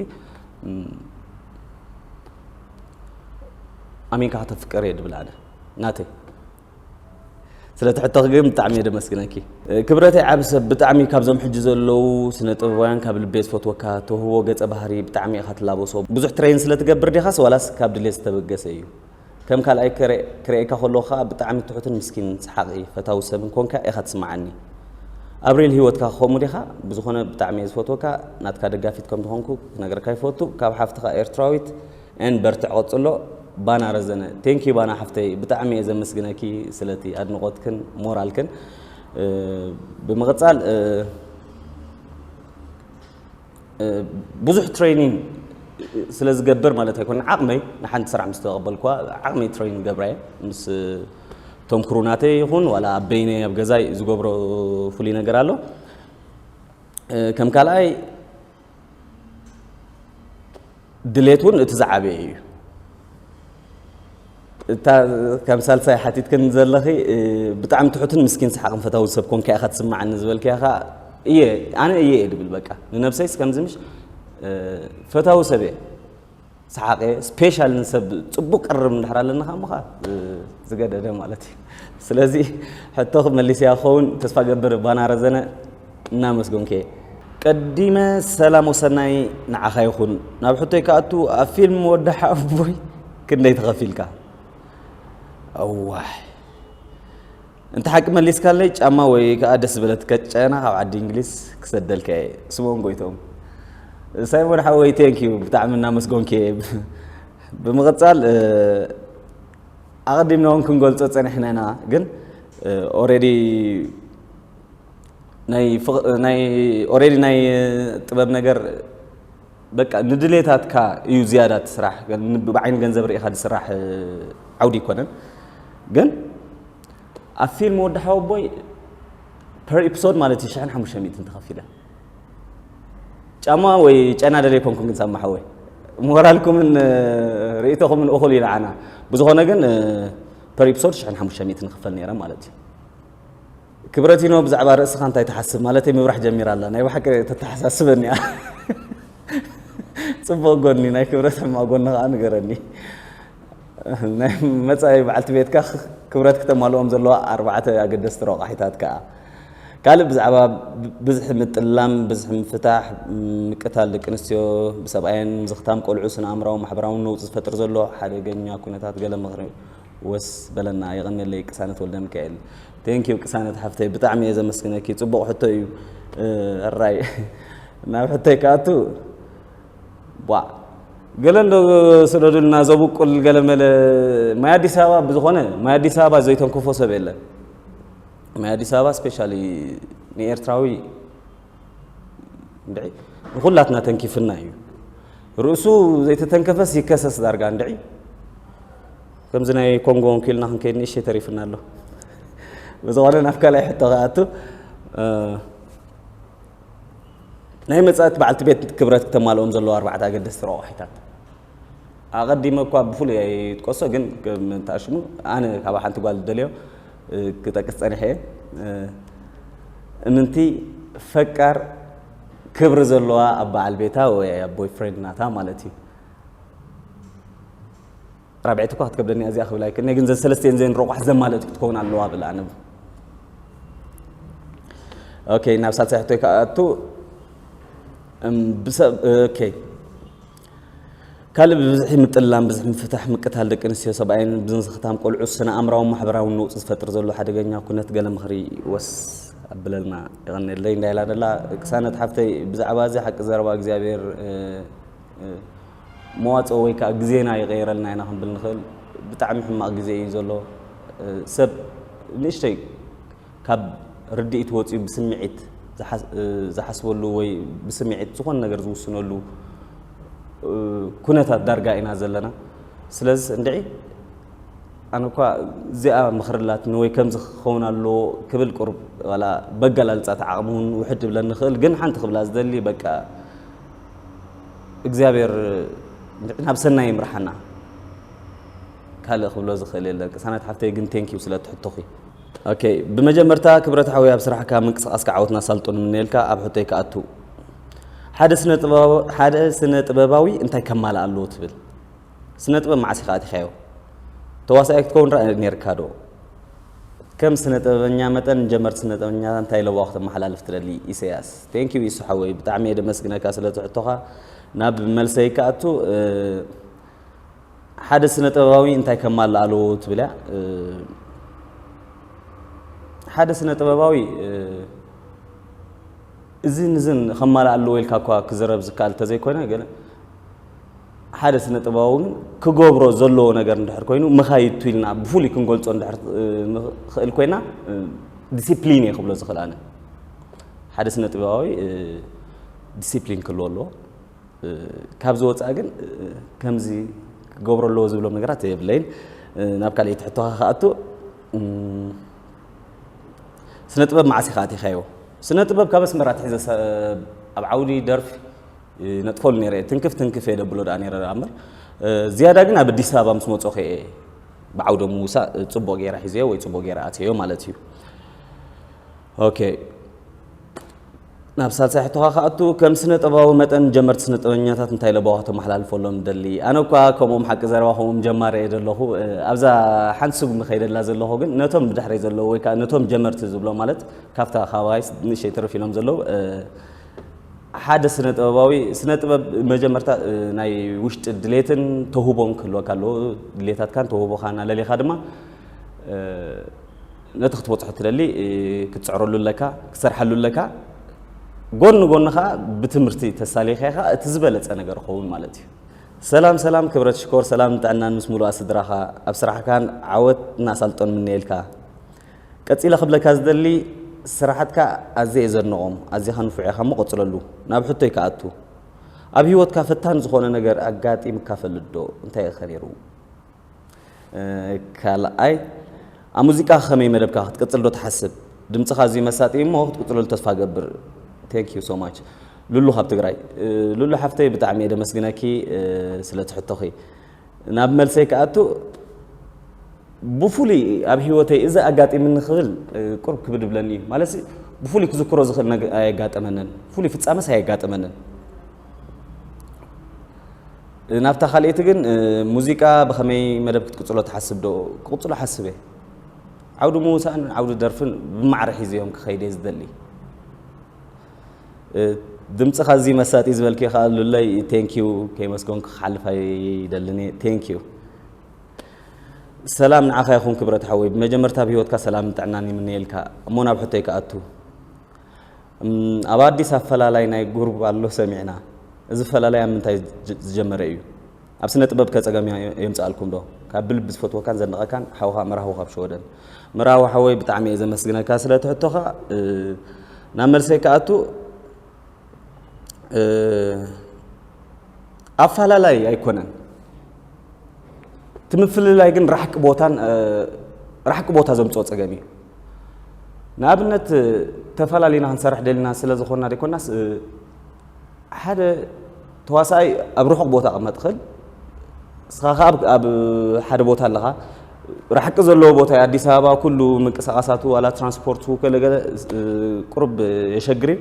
ኣሚንካ ከተፍቅር እየ ድብል ኣነ ናተይ ስለቲ ሕቶኺ ግን ብጣዕሚ እየ ደመስግነኪ ክብረተይ ዓብ ሰብ ብጣዕሚ ካብዞም ሕጂ ዘለዉ ስነ ጥበባውያን ካብ ልቤ ዝፈትወካ ተውህቦ ገጸ ባህሪ ብጣዕሚ ኢኻ ትላበሶ ብዙሕ ትሬን ስለ ትገብር ዲኻስ ዋላስ ካብ ድሌት ዝተበገሰ እዩ ከም ካልኣይ ክርኤካ ከለኩ ከኣ ብጣዕሚ ትሑትን ምስኪንን ሰሓቂ ፈታዊ ሰብን ኮንካ ኢካ ትስምዓኒ ኣብ ሪል ሂወትካ ከምኡ ዲካ ብዝኮነ ብጣዕሚ እየ ዝፈትወካ ናትካ ደጋፊት ከም ዝኮንኩ ክነግረካ ይፈቱ ካብ ሓፍትካ ኤርትራዊት ን በርትዕ ቀጽሎ ባና ረዘነ thank you ባና ሓፍተይ ብጣዕሚ እየ ዘመስግነኪ ስለቲ ኣድንቆትክን ሞራልክን ብምቅጻል ብዙሕ ትሬኒንግ ስለ ዝገብር ማለት ኣይኮነ ዓቕመይ ንሓንቲ ስራሕ ምስ ተቐበልኳ ዓቕመይ ትሬኒንግ ገብራ እየ ምስ እቶም ክሩ ናተይ ይኹን ዋላ ኣብ በይነይ ኣብ ገዛይ ዝገብሮ ፍሉይ ነገር ኣሎ ከም ካልኣይ ድሌት እውን እቲ ዝዓበየ እዩ። እታ ከም ሳልሳይ ሓቲትክን ዘለኺ ብጣዕሚ ትሑትን ምስኪን ሰሓቕን ፈታዊ ሰብ ኮንካ ኢኻ ትስምዓኒ ዝበልክያ ኸ እየ ኣነ እየ እየ ድብል በቃ ንነብሰይስ ከምዚ ምሽ ፈታዊ ሰብ እየ ሰሓቕ እየ ስፔሻል ንሰብ ፅቡቅ ቅርብ እንድሕር ኣለና ከ ምኻ ዝገደደ ማለት እዩ ስለዚ ሕቶ መሊስያ ክኸውን ተስፋ ገብር ባና ረዘነ እናመስገንኩ'የ። ቀዲመ ሰላም ወሰናይ ንዓኻ ይኹን። ናብ ሕቶይ ክኣቱ ኣብ ፊልም ወዲ ሓወቦይ ክንደይ ተኸፊልካ? እዋይ እንተ ሓቂ መሊስካለይ ጫማ ወይ ከዓ ደስ ዝበለት ከጨና ካብ ዓዲ እንግሊዝ ክሰደልካ እየ። ስምኦን ጎይቶም ሳይሞን ሓወይ ቴንኪዩ ብጣዕሚ እናመስጎንኪ ብምቕጻል ኣቐዲምና እውን ክንገልጾ ጸኒሕና ኢና ግን ኦሬዲ ናይ ናይ ኦሬዲ ናይ ጥበብ ነገር በቃ ንድሌታትካ እዩ ዝያዳ ትስራሕ ብዓይኒ ገንዘብ ርኢኻ ዝስራሕ ዓውዲ ይኮነን ግን ኣብ ፊልም ወዲ ሓወቦይ ፐር ኤፒሶድ ማለት እዩ ሽሕን ሓሙሽተ ሚእትን ተኸፊለ ጫማ ወይ ጨና ደለ ይኮንኩም ግን ሳማ ሓወይ ሞራልኩምን ርእቶኹምን እኹል እዩ ንዓና ብዝኾነ ግን ፐር ኤፒሶድ ሽሕን ሓሙሽተ ሚእትን ንኽፈል ነይረ ማለት እዩ ክብረቲኖ ብዛዕባ ርእስኻ እንታይ ትሓስብ ማለተይ ምብራሕ ጀሚራ ኣላ ናይ ብሓቂ ተተሓሳስበኒ እያ ጽቡቕ ጎኒ ናይ ክብረት ሕማቕ ጎኒ ከኣ ንገረኒ ናይ መጻኢ በዓልቲ ቤትካ ክብረት ክተማልኦም ዘለዋ ኣርባዕተ ኣገደስቲ ረቋሒታት ከኣ ካልእ ብዛዕባ ብዝሒ ምጥላም ብዝሒ ምፍታሕ ምቅታል ደቂ ኣንስትዮ ብሰብኣየን ምዝኽታም ቆልዑ ስነ ኣእምራዊ ማሕበራውን ነውፂ ዝፈጥር ዘሎ ሓደገኛ ኩነታት ገለ ምኽሪ ወስ በለና የቐኔለይ ቅሳነት ወልደሚካኤል። Thank you ቅሳነት ሓፍተይ ብጣዕሚ እየ ዘመስግነኪ ጽቡቕ ሕቶ እዩ ሕራይ ናብ ሕቶይ ክኣቱ ቧዕ ገለ እንዶ ስደዱልና ዘብቁል ገለ መለ ማይ ኣዲስ ኣበባ ብዝኾነ ማይ ኣዲስ ኣበባ ዘይተንክፎ ሰብ የለን ማይ ኣዲስ ኣበባ ስፔሻሊ ንኤርትራዊ እንድዒ ንኹላትና ተንኪፍና እዩ ርእሱ ዘይተተንከፈስ ይከሰስ ዳርጋ እንድዒ ከምዚ ናይ ኮንጎ ወንኪልና ክንከይድ ንእሸ ተሪፍና ኣሎ ብዝኾነ ናብ ካልኣይ ሕቶ ክኣቱ ናይ መፃእቲ በዓልቲ ቤት ክብረት ክተማልኦም ዘለዎ ኣርባዕተ ኣገደስቲ ረቋሒታት ኣቀዲመ እኳ ብፍሉይ ኣይጥቀሶ ግን ከም እንተ ኣሽሙ ኣነ ካብ ሓንቲ ጓል ዝደልዮ ክጠቅስ ጸኒሐ እየ እምንቲ ፈቃር ክብሪ ዘለዋ ኣብ በዓል ቤታ ወይ ኣብ ቦይ ፍሬንድ ናታ ማለት እዩ ራብዒት እኳ ክትከብደኒ እዚኣ ክብል ኣይክእልኒ ግን ዘን ሰለስተን ዘን ረቋሕ ዘማለጥ ክትከውን ኣለዋ ብል ኣነ ኦኬ ናብ ሳልሳይ ሕቶይ ከኣቱ ካልእ ብብዝሒ ምጥላም፣ ብዝሒ ምፍታሕ፣ ምቅታል ደቂ ኣንስትዮ ሰብኣይን ብዝንዝኽታም ቆልዑ ስነ ኣእምራውን ማሕበራውን ነውጺ ዝፈጥር ዘሎ ሓደገኛ ኩነት ገለ ምኽሪ ወስ ኣብለልና። የቐኔለይ እንታይ ኢላ ደላ ቅሳነት ሓፍተይ ብዛዕባ እዚ ሓቂ ዘረባ እግዚኣብሔር መዋጽኦ ወይ ከዓ ግዜና ይቐይረልና ኢና ክንብል ንኽእል። ብጣዕሚ ሕማቕ ግዜ እዩ ዘሎ ሰብ ንእሽተይ ካብ ርድኢት ወጺኡ ብስምዒት ዝሓስበሉ ወይ ብስምዒት ዝኾነ ነገር ዝውስነሉ ኩነታት ዳርጋ ኢና ዘለና። ስለዚ እንድዒ ኣነ እኳ እዚኣ ምኽሪ ኣላትኒ ወይ ከምዚ ክኸውን ኣለዎ ክብል ቁሩብ ዋላ በገላልጻት ዓቕሚ እውን ውሕድ ይብለኒ ይኽእል፣ ግን ሓንቲ ክብላ ዝደሊ በቃ እግዚኣብሔር እንድዒ ናብ ሰናይ ይምርሓና። ካልእ ክብሎ ዝኽእል የለን። ቅሳነት ሓፍተይ ግን ቴንኪው ስለ እቲ ሕቶኺ። ኦኬ ብመጀመርታ ክብረት ሓወይ ኣብ ስራሕካ ምንቅስቃስካ ዓወትን ኣሳልጦን ንምነየልካ ኣብ ሕቶይ ክኣቱ ሓደ ስነ ጥበባዊ ሓደ ስነ ጥበባዊ እንታይ ከማልእ ኣለዎ ትብል ስነ ጥበብ መዓስ ኢኻ ኣቲኻዮ ተዋሳኣይ ክትከውን ራ ነርካ ዶ ከም ስነ ጥበበኛ መጠን ንጀመርቲ ስነ ጥበበኛ እንታይ ለዋ ክተመሓላልፍ ትደሊ ኢሰያስ ቴንክ ዩ ኢሱ ሓወይ ብጣዕሚ እየ ደመስግነካ ስለቲ ሕቶኻ ናብ መልሰይ ክኣቱ ሓደ ስነ ጥበባዊ እንታይ ከማልእ ኣለዎ ትብል እያ ሓደ ስነ ጥበባዊ እዝን እዝን ከማልእ ኣለዎ ኢልካ እኳ ክዝረብ ዝከኣል እንተዘይኮነ ግን ሓደ ስነ ጥበባዊ ግን ክገብሮ ዘለዎ ነገር እንድሕር ኮይኑ መኻይድቱ ኢልና ብፍሉይ ክንገልፆ እንድሕር ንኽእል ኮይና ዲሲፕሊን እየ ክብሎ ዝኽእል ኣነ ሓደ ስነ ጥበባዊ ዲሲፕሊን ክህልዎ ኣለዎ ካብዚ ወጻኢ ግን ከምዚ ክገብሮ ኣለዎ ዝብሎም ነገራት የብለይን። ናብ ካልኣይቲ ሕቶኻ ክኣቱ ስነ ጥበብ መዓስ ኢኻ ኣቲኻዮ? ስነ ጥበብ ካብ ኣስመራ ኣትሒዘ ኣብ ዓውዲ ደርፊ ነጥፈሉ ነይረ ትንክፍ ትንክፍ እየ ደብሎ ደኣ ነይረ ደኣ እምበር ዝያዳ ግን ኣብ ኣዲስ ኣበባ ምስ መጾኹ እየ ብዓውደ ምውሳእ ጽቡቕ ገይረ ሒዘዮ ወይ ጽቡቕ ገይረ ኣትየዮ ማለት እዩ ኦኬ ናብ ሳልሳይ ሕቶኻ ክኣቱ፣ ከም ስነ-ጥበባዊ መጠን ንጀመርቲ ስነ-ጥበበኛታት እንታይ ለበዋ ከተመሓላልፈሎም ትደሊ? ኣነ እኳ ከምኦም ሓቂ ዘረባ ከምኦም ጀማሪ እየ ዘለኹ። ኣብዛ ሓንቲ ስጉሚ ከይደላ ዘለኹ ግን ነቶም ብድሕረይ ዘለዉ ወይ ከኣ ነቶም ጀመርቲ ዝብሎም ማለት ካብታ ካባይስ ንእሽተይ ትርፍ ኢሎም ዘለዉ ሓደ ስነ-ጥበባዊ ስነ-ጥበብ መጀመርታ ናይ ውሽጢ ድሌትን ተውህቦን ክህልወካ ኣለዎ። ድሌታትካን ተውህቦኻን ኣለሊኻ ድማ ነቲ ክትበጽሖ እትደሊ ክትጽዕረሉ ኣለካ፣ ክትሰርሓሉ ኣለካ። ጎን ንጎኒ ከኣ ብትምህርቲ ተሳሊኻ ከኣ እቲ ዝበለጸ ነገር ይኸውን ማለት እዩ። ሰላም ሰላም ክብረት ሽኮር ሰላምን ጥዕናን ምስ ሙሉኣ ስድራኻ ኣብ ስራሕካን ዓወት እና ኣሳልጦን ምነየልካ ቀጺለ ክብለካ ዝደሊ ስራሓትካ ኣዝየ እየ ዘድንቖም ኣዚኻ ንፉዕ ኢኻ እሞ ቀጽለሉ ናብ ሕቶይ ክኣቱ ኣብ ሂወትካ ፈታኒ ዝኾነ ነገር ኣጋጢምካ ፈልጥ ዶ እንታይ ኢኸ ነይሩ ካልኣይ ኣብ ሙዚቃ ከመይ መደብካ ክትቅጽል ዶ ትሓስብ? ድምጽኻ ኣዝዩ መሳጢ እዩ እሞ ክትቅጽለሉ ተስፋ እገብር። ቴንክ ዩ ሶ ማች ሉሉ ካብ ትግራይ። ሉሉ ሓፍተይ ብጣዕሚ እየ ደመስግነኪ ስለ እቲ ሕቶኺ። ናብ መልሰይ ክኣቱ ብፍሉይ ኣብ ሂወተይ እዚ ኣጋጢምኒ ክብል ቁርብ ክብድ ይብለኒ እዩ። ማለት ብፍሉይ ክዝክሮ ዝኽእል ኣየጋጠመንን ፍሉይ ፍጻመስ ኣየጋጠመንን። ናብታ ካልኤቲ ግን ሙዚቃ ብኸመይ መደብ ክትቅፅሎ ትሓስብ ዶ ክቕፅሎ ሓስብ እየ ዓውዲ ምውሳእን ዓውዲ ደርፍን ብማዕረ ሒዘዮም ክኸይድ እየ ዝደሊ ድምፅኻ እዚ መሳጢ ዝበልክ ከዓ ሉለይ ቴንኪዩ ከይመስገንኩ ክሓልፍ ኣይደልን እየ ቴንኪዩ ሰላም ንዓኻ ይኹን ክብረት ሓወይ ብመጀመርታ ኣብ ሂወትካ ሰላምን ጥዕናን ይምነየልካ እሞ ናብ ሕቶይ ክኣቱ ኣብ ኣዲስ ኣፈላላይ ናይ ጉሩብ ኣሎ ሰሚዕና እዚ ኣፈላላይ ኣብ ምንታይ ዝጀመረ ኢዩ ኣብ ስነ ጥበብ ከ ጸገም የምጽኣልኩም ዶ ካብ ብልቢ ዝፈትወካን ዘድንቐካን ሓውኻ መራህዊ ካብ ሸወደን መራህዊ ሓወይ ብጣዕሚ እየ ዘመስግነካ ስለ ትሕቶኻ ናብ መልሰይ ከኣቱ ኣፈላላይ ኣይኮነን እቲ ምፍልላይ ግን ራሕቂ ቦታን ራሕቂ ቦታ ዘምፅኦ ፀገም እዩ ንኣብነት ተፈላለና ክንሰርሕ ደልና ስለ ዝኾና ደይኮናስ ሓደ ተዋሳኣይ ኣብ ርሑቕ ቦታ ቅመጥ ኽእል እስኻ ከዓ ኣብ ሓደ ቦታ ኣለኻ ራሕቂ ዘለዎ ቦታ እዩ ኣዲስ ኣበባ ኩሉ ምንቅስቃሳቱ ዋላ ትራንስፖርቱ ገለገለ ቁርብ የሸግር እዩ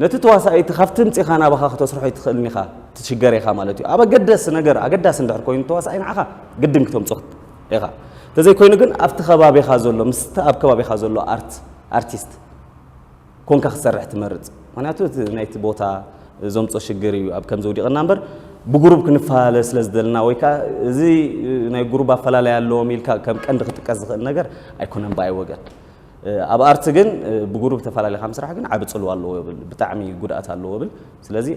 ነቲ ተዋሳኣይ እቲ ካብቲ ምጺኻ ናባኻ ከተስርሖ ኣይትኽእልን ኢኻ ትሽገር ኢኻ ማለት እዩ ኣብ ኣገደሲ ነገር ኣገዳሲ እንድሕር ኮይኑ ተዋሳኣይ ንዓኻ ግድን ክተምጾ ኢኻ እንተዘይ ኮይኑ ግን ኣብቲ ከባቢኻ ዘሎ ምስቲ ኣብ ከባቢኻ ዘሎ ኣርት ኣርቲስት ኮንካ ክትሰርሕ ትመርጽ ምክንያቱ እቲ ናይቲ ቦታ ዘምጾ ሽግር እዩ ኣብ ከምዚ ውዲቕና እምበር ብጉሩብ ክንፈላለ ስለ ዝደልና ወይ ከዓ እዚ ናይ ጉሩብ ኣፈላለይ ኣለዎም ኢልካ ከም ቀንዲ ክጥቀስ ዝኽእል ነገር ኣይኮነን ብኣይ ወገን ኣብ ኣርት ግን ብጉሩብ ተፋላሊኻ ምስራሕ ግን ዓቢ ጽልዋ ኣለዎ ይብል ብጣዕሚ ጉድኣት ኣለዎ ይብል ስለዚ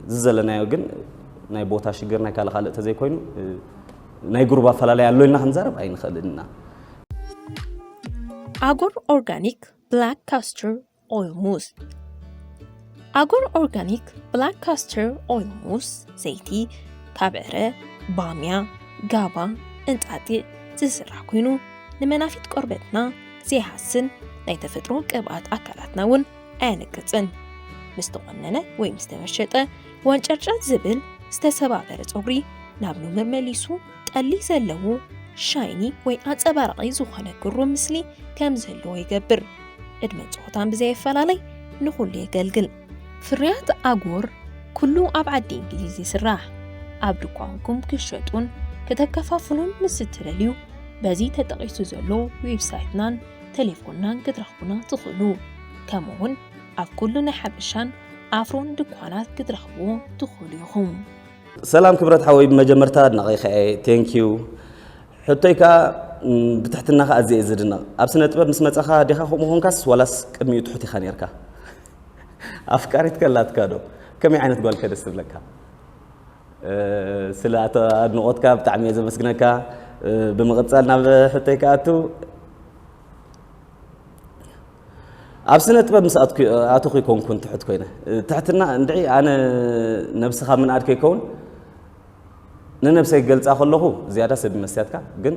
እዚ ዘለናዮ ግን ናይ ቦታ ሽግር ናይ ካልእ ካልእ ተዘይ ኮይኑ ናይ ጉሩብ ኣፈላላይ ኣሎ ኢልና ክንዛረብ ኣይንኽእልን ኢና
ኣጎር ኦርጋኒክ ብላክ ካስቱር ኦይል ሙስ ኣጎር ኦርጋኒክ ብላክ ካስተር ኦይል ሙስ ዘይቲ ካብ ዕረ ባምያ ጋባ እንጣጢዕ ዝስራሕ ኮይኑ ንመናፊት ቆርበትና ዘይሃስን ናይ ተፈጥሮ ቅብኣት ኣካላትና እውን ኣየነቅፅን ምስ ተቆነነ ወይ ምስ ተመሸጠ ወንጨርጨር ዝብል ዝተሰባበረ ፀጉሪ ናብ ኑምር መሊሱ ጠሊ ዘለዎ ሻይኒ ወይ ኣጸባራቒ ዝኾነ ግሩም ምስሊ ከም ዘለዎ ይገብር። ዕድመ ጾታን ብዘየፈላለይ ንኹሉ የገልግል። ፍርያት ኣጎር ኩሉ ኣብ ዓዲ እንግሊዝ ይስራሕ። ኣብ ድኳንኩም ክሸጡን ክተከፋፍሉን ምስ እትደልዩ በዚ ተጠቒሱ ዘሎ ዌብሳይትናን ቴሌፎንናን ክትረኽቡና ትኽእሉ። ከምኡውን ኣብ ኩሉ ናይ ሓበሻን ኣፍሮን ድኳናት ክትረኽብዎ ትኽእሉ ኢኹም። ሰላም
ክብረት ሓወይ ብመጀመርታ ኣድናቒኻ እየ ቴንክ ዩ ሕቶይ ከኣ ብትሕትናኻ ኣዝየ እየ ዝድነቕ ኣብ ስነ ጥበብ ምስ መጻኻ ዲኻ ከምኡ ኾንካስ ዋላስ ቅድሚኡ ትሑት ኢኻ ነርካ ኣፍቃሪት ከላትካ ዶ ከመይ ዓይነት ጓል ከ ደስ ትብለካ ስለ ኣድንቖትካ ብጣዕሚ እየ ዘመስግነካ ብምቕጻል ናብ ሕቶይ ክኣቱ ኣብ ስነ ጥበብ ምስ ኣተኹ ይኮንኩን ትሑት ኮይነ ትሕትና እንድዒ ኣነ ነብሲ ካብ ምንኣድ ከይከውን ንነብሰይ ክገልፃ ከለኹ ዝያዳ ሰብ መስትያትካ ግን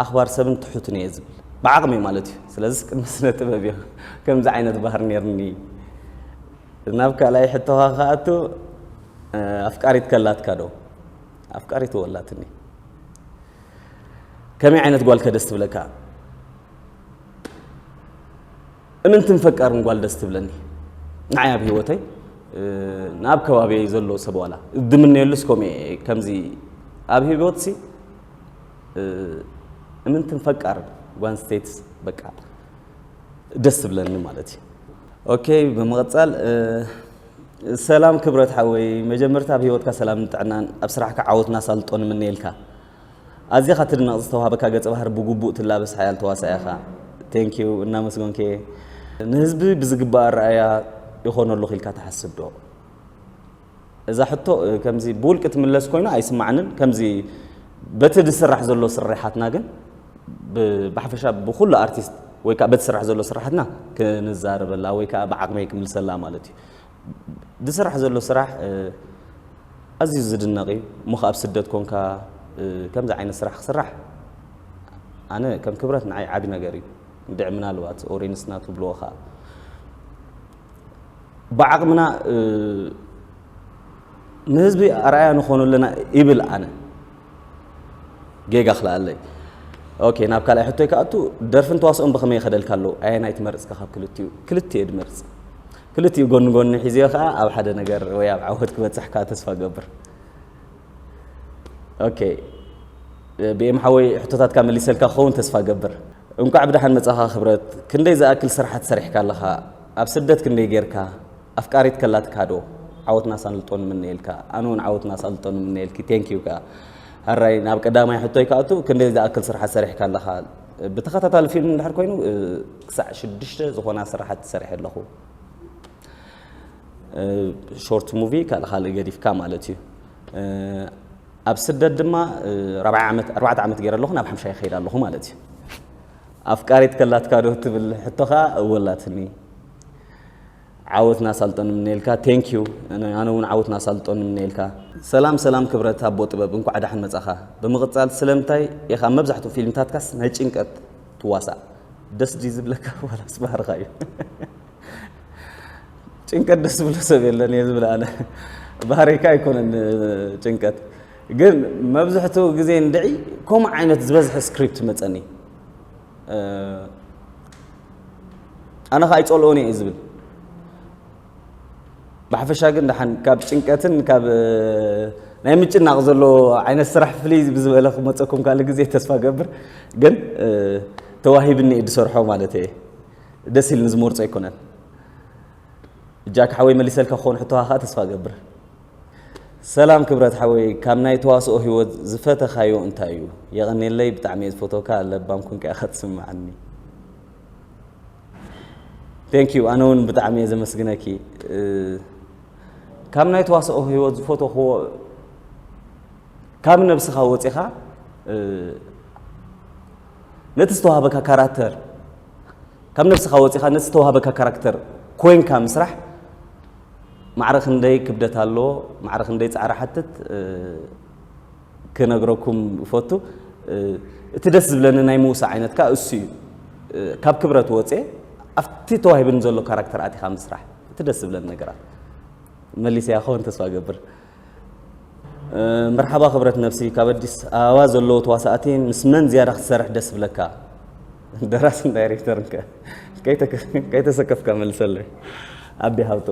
ኣኽባር ሰብን ትሑትን እየ ዝብል ብዓቕሚ ማለት እዩ ስለዚ ቅድሚ ስነ ጥበብ እዮ ከምዚ ዓይነት ባህር ነርኒ ናብ ካልኣይ ሕቶኻ ክኣቱ ኣፍቃሪት ከላትካ ዶ ኣፍቃሪት ወላትኒ ከመይ ዓይነት ጓል ከደስ ትብለካ እምንትን ፈቃርን ጓል ደስ ትብለኒ ንዓይ ኣብ ሂወተይ ናብ ከባቢየ ዘሎ ሰብ ዋላ ድምነየሉስ ከምኡ ከምዚ ኣብ ሂወትሲ እምንትን ፈቃርን ጓል ኣንስተይትስ በቃ ደስ ትብለኒ ማለት እዩ ኦኬ ብምቕፃል ሰላም ክብረት ሓወይ መጀመርታ ኣብ ሂወትካ ሰላምን ጥዕናን ኣብ ስራሕካ ዓወት ናሳልጦ ንምነየልካ ኣዚኻ ትድነቕ ዝተዋሃበካ ገጸ ባህሪ ብጉቡእ ትላበስ ሓያል ተዋሳኢ ኢኻ Thank you እናመስጎንኪ ንህዝቢ ብዝግባእ ኣረኣእያ ይኾነሉ ክኢልካ ትሓስብ ዶ? እዛ ሕቶ ከምዚ ብውልቂ ትምለስ ኮይና ኣይስማዕንን ከምዚ በቲ ዝስራሕ ዘሎ ስርሓትና ግን ብሓፈሻ ብኩሉ ኣርቲስት ወይ ከዓ በቲ ስራሕ ዘሎ ስርሓትና ክንዛረበላ ወይ ከዓ ብዓቕመይ ክምልሰላ ማለት እዩ ዝስራሕ ዘሎ ስራሕ ኣዝዩ ዝድነቕ እዩ እሞ ከኣ ኣብ ስደት ኮንካ ከምዚ ዓይነት ስራሕ ክስራሕ ኣነ ከም ክብረት ንዓይ ዓቢ ነገር እዩ እንድዒ ምናልባት ኦሬንስ ናቱ ብልዎ ከኣ ብዓቕምና ንህዝቢ ኣርኣያ ንኾኑ ኣለና ይብል ኣነ ጌጋ ክልኣለይ ኦኬ ናብ ካልኣይ ሕቶይ ክኣቱ ደርፍን ተዋስኦን ብኸመይ ይኸደልካ ኣለዉ ኣየናይ ትመርጽካ ካብ ክልቲኡ ክልቲኤ ድመርጽ ክልቲኡ ጎኒ ጎኒ ሒዘዮ ከኣ ኣብ ሓደ ነገር ወይ ኣብ ዓወት ክበጽሕ ከኣ ተስፋ ገብር። ኦኬ ብኤም ሓወይ ሕቶታትካ መሊሰልካ ክኸውን ተስፋ ገብር። እንቋዕ ብደሓን መጻኻ ክብረት። ክንደይ ዝኣክል ስርሓት ሰሪሕካ ኣለኻ? ኣብ ስደት ክንደይ ጌርካ? ኣፍቃሪት ከላትካ ዶ? ዓወትና ኣሳልጦ ንምነየልካ። ኣነ ውን ዓወትና ኣሳልጦ ንምነየልኪ። Thank you ከኣ። ሀራይ ናብ ቀዳማይ ሕቶይ ክኣቱ ክንደይ ዝኣክል ስርሓት ሰሪሕካ ኣለኻ? ብተኸታታሊ ፊልም እንድሕር ኮይኑ ክሳዕ ሽዱሽተ ዝኾና ስራሓት ሰሪሐ ኣለኹ። ሾርት ሙቪ ካልእ ካልእ ገዲፍካ ማለት እዩ ኣብ ስደት ድማ ራብዓይ ዓመት ኣርባዕተ ዓመት ገይረ ኣለኹ ናብ ሓምሻይ ይኸይድ ኣለኹ ማለት እዩ ኣፍቃሪት ከላትካ ዶ ትብል ሕቶ ከዓ እወላትኒ ዓወት ናሳልጦ ንምነየልካ። Thank you ኣነ ውን ዓወት ናሳልጦ ንምነየልካ። ሰላም ሰላም ክብረት ኣቦ ጥበብ እንኳዕ ዳሕን መጻኻ ብምቅጻል ስለምንታይ ኢኻ ኣብ መብዛሕትኡ ፊልምታትካስ ናይ ጭንቀት ትዋሳእ ደስ ድዩ ዝብለካ ዋላስ ባህርኻ እዩ ጭንቀት ደስ ዝብሎ ሰብ የለን እየ ዝብል ኣነ ባህሪካ ኣይኮነን ጭንቀት ግን መብዝሕትኡ ግዜ እንድዒ ከምኡ ዓይነት ዝበዝሐ ስክሪፕት መጸኒ ኣነ ከኣ ኣይጸልኦን እየ ዝብል ብሓፈሻ ግን ደሓን ካብ ጭንቀትን ካብ ናይ ምጭናቕ ዘሎ ዓይነት ስራሕ ፍልይ ብዝበለ ክመፀኩም ካልእ ግዜ ተስፋ ገብር ግን ተዋሂብኒ እየ ዝሰርሖ ማለት እየ ደስ ኢልኒ ዝመርፆ ኣይኮነን እጃካ ሓወይ መሊሰልካ ክኾን ሕቶኻ ከዓ ተስፋ ገብር ሰላም ክብረት ሓወይ ካብ ናይ ተዋስኦ ሂወት ዝፈተካዮ እንታይ እዩ የቀኔለይ ብጣዕሚ እየ ዝፈትወካ ለባም ኮንካ ኢካ ትስምዓኒ Thank you ኣነ ውን ብጣዕሚ እየ ዘመስግነኪ ካብ ናይ ተዋስኦ ሂወት ዝፈተክዎ ካብ ነብስካ ወጺካ ነቲ ዝተዋሃበካ ካራክተር ካብ ነብስካ ወጺካ ነቲ ዝተዋሃበካ ካራክተር ኮንካ ምስራሕ ማዕረ ክንደይ ክብደት ኣለዎ ማዕረ ክንደይ ጻዕሪ ሓትት ክነግረኩም እፈቱ እቲ ደስ ዝብለኒ ናይ ምውሳ ዓይነት ከኣ እሱ እዩ ካብ ክብረት ወጼ ኣብቲ ተዋሂብኒ ዘሎ ካራክተር ኣቲኻ ምስራሕ እቲ ደስ ዝብለኒ ነገራት መሊሰያ ክኸውን ተስፋ ገብር መርሓባ ክብረት ነብሲ ካብ ኣዲስ ኣበባ ዘለዉ ተዋሳእቲ ምስ መን ዝያዳ ክትሰርሕ ደስ ብለካ ደራስን ዳይሬክተርን ከ ከይተሰከፍካ መልሰለይ ኣቢ ሃብቶ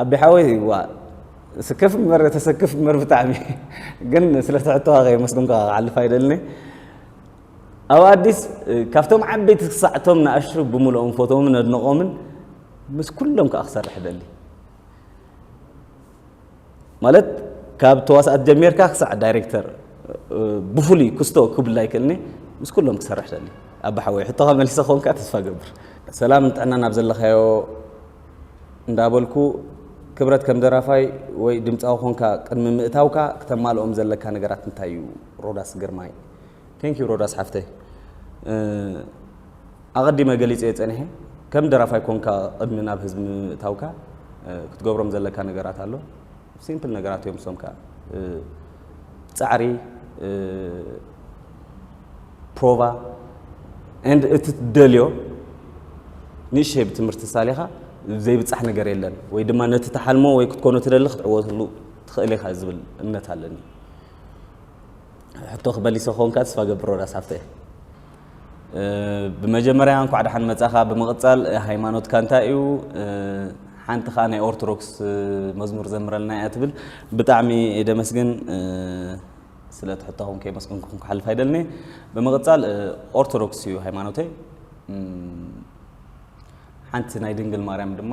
ኣቢ ሓወይ ዋ ስከፍ እምበር ተሰክፍ እምበር ብጣዕሚ ግን ስለ ትሕቶኻ ከየመስግንካ ክሓልፍ ኣይደልኒ ኣብ ኣዲስ ካብቶም ዓበይቲ ክሳዕቶም ንኣሽቱ ብምልኦም ፎቶምን ኣድንቖምን ምስ ኩሎም ከዓ ክሰርሕ ደሊ ማለት ካብ ተዋሳእት ጀሚርካ ክሳዕ ዳይሬክተር ብፍሉይ ክስቶ ክብላ ኣይክእልኒ ምስ ኩሎም ክሰርሕ ደሊ ኣባ ሓወይ ሕቶኻ መሊሰ ኮንካ ተስፋ ገብር ሰላም ንጥዕና ናብ ዘለኻዮ እንዳበልኩ ክብረት ከም ደራፋይ ወይ ድምፃዊ ኮንካ ቅድሚ ምእታውካ ክተማልኦም ዘለካ ነገራት እንታይ እዩ ሮዳስ ግርማይ ቴንክ ዩ ሮዳስ ሓፍተይ ኣቐዲመ ገሊጸዮ ጸኒሐ ከም ደራፋይ ኮንካ ቕድሚ ናብ ህዝቢ ምምእታውካ ክትገብሮም ዘለካ ነገራት ኣሎ ሲምፕል ነገራት እዮም እሶም ከኣ ጻዕሪ ፕሮቫ and እቲ ትደልዮ ንእሽተይ ብትምህርቲ ሳሊኻ ዘይብጻሕ ነገር የለን ወይ ድማ ነቲ ተሓልሞ ወይ ክትኮኖ ትደሊ ክትዕወትሉ ትኽእል ኢኻ ዝብል እምነት ኣለኒ ሕቶ ክመሊሰ ክኾንካ ተስፋ ገብር ሮዳስ ሃፍተ ብመጀመርያ እንኳዕ ደሓን መጻኻ ብምቕጻል ሃይማኖትካ እንታይ እዩ ሓንቲ ከዓ ናይ ኦርቶዶክስ መዝሙር ዘምረልና እያ ትብል ብጣዕሚ ደመስግን ስለ ትሕታኹም ከየመስግንኩም ክሓልፍ ኣይደልኒ ብምቕጻል ኦርቶዶክስ እዩ ሃይማኖተይ ሓንቲ ናይ ድንግል ማርያም ድማ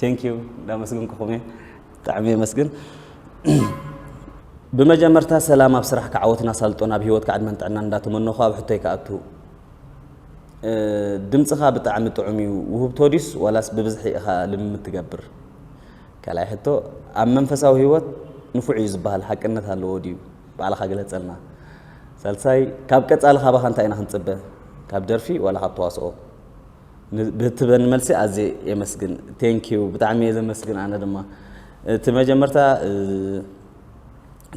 Thank you እንዳመስግንኩኹም እየ ብጣዕሚ የመስግን ብመጀመርታ ሰላም ኣብ ስራሕ ክዓወትን ኣሳልጦን ኣብ ሂወትካ ዕድመን ጥዕናን እንዳተመነኹ ኣብ ሕቶይ ክኣቱ ድምፅኻ ብጣዕሚ ጥዑም እዩ ውህብቶ ዲስ ዋላስ ብብዝሒ ኢኻ ልምምድ ትገብር ካልኣይ ሕቶ ኣብ መንፈሳዊ ህይወት ንፉዕ እዩ ዝበሃል ሓቅነት ኣለዎ ድዩ ባዕልኻ ግለፀልና ሳልሳይ ካብ ቀፃሊ ካባኻ እንታይ ኢና ክንፅበ ካብ ደርፊ ዋላ ካብ ተዋስኦ ንብትበኒ መልሲ ኣዝየ የመስግን። Thank you ብጣዕሚ እየ ዘመስግን ኣነ ድማ እቲ መጀመርታ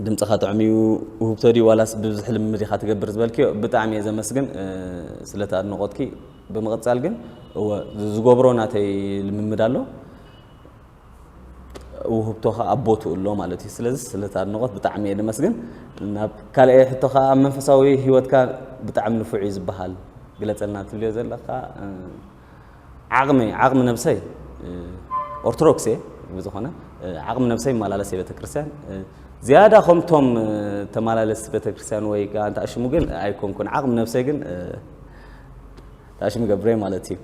ድምጽኻ ጥዑም እዩ ውህብቶ ድዩ ዋላስ ብብዝሒ ልምምድ ኢኻ ትገብር ዝበልክዮ ብጣዕሚ እየ ዘመስግን ስለቲ ኣድንቖትኪ ብምቕጻል ግን እወ ዝገብሮ ናተይ ልምምድ ኣሎ ውህብቶ ከኣ ኣብ ቦትኡ ኣሎ ማለት እዩ ስለዚ ስለቲ ኣድንቖት ብጣዕሚ እየ ደመስግን ናብ ካልኣይ ሕቶ ከኣ ኣብ መንፈሳዊ ሂወትካ ብጣዕሚ ንፉዕ እዩ ዝበሃል ግለጸልና ትብልዮ ዘለካ ዓቕሚ ዓቕሚ ነብሰይ ኦርቶዶክስ እየ ብዝኾነ ዓቕሚ ነብሰይ ይመላለስ እየ ቤተክርስትያን ዝያዳ ከምቶም ተመላለስቲ ቤተክርስትያን ወይ ከዓ እንተ ኣሽሙ ግን ኣይኮንኩን ዓቕሚ ነብሰይ ግን ተኣሽሙ ገብረ ማለት እዩ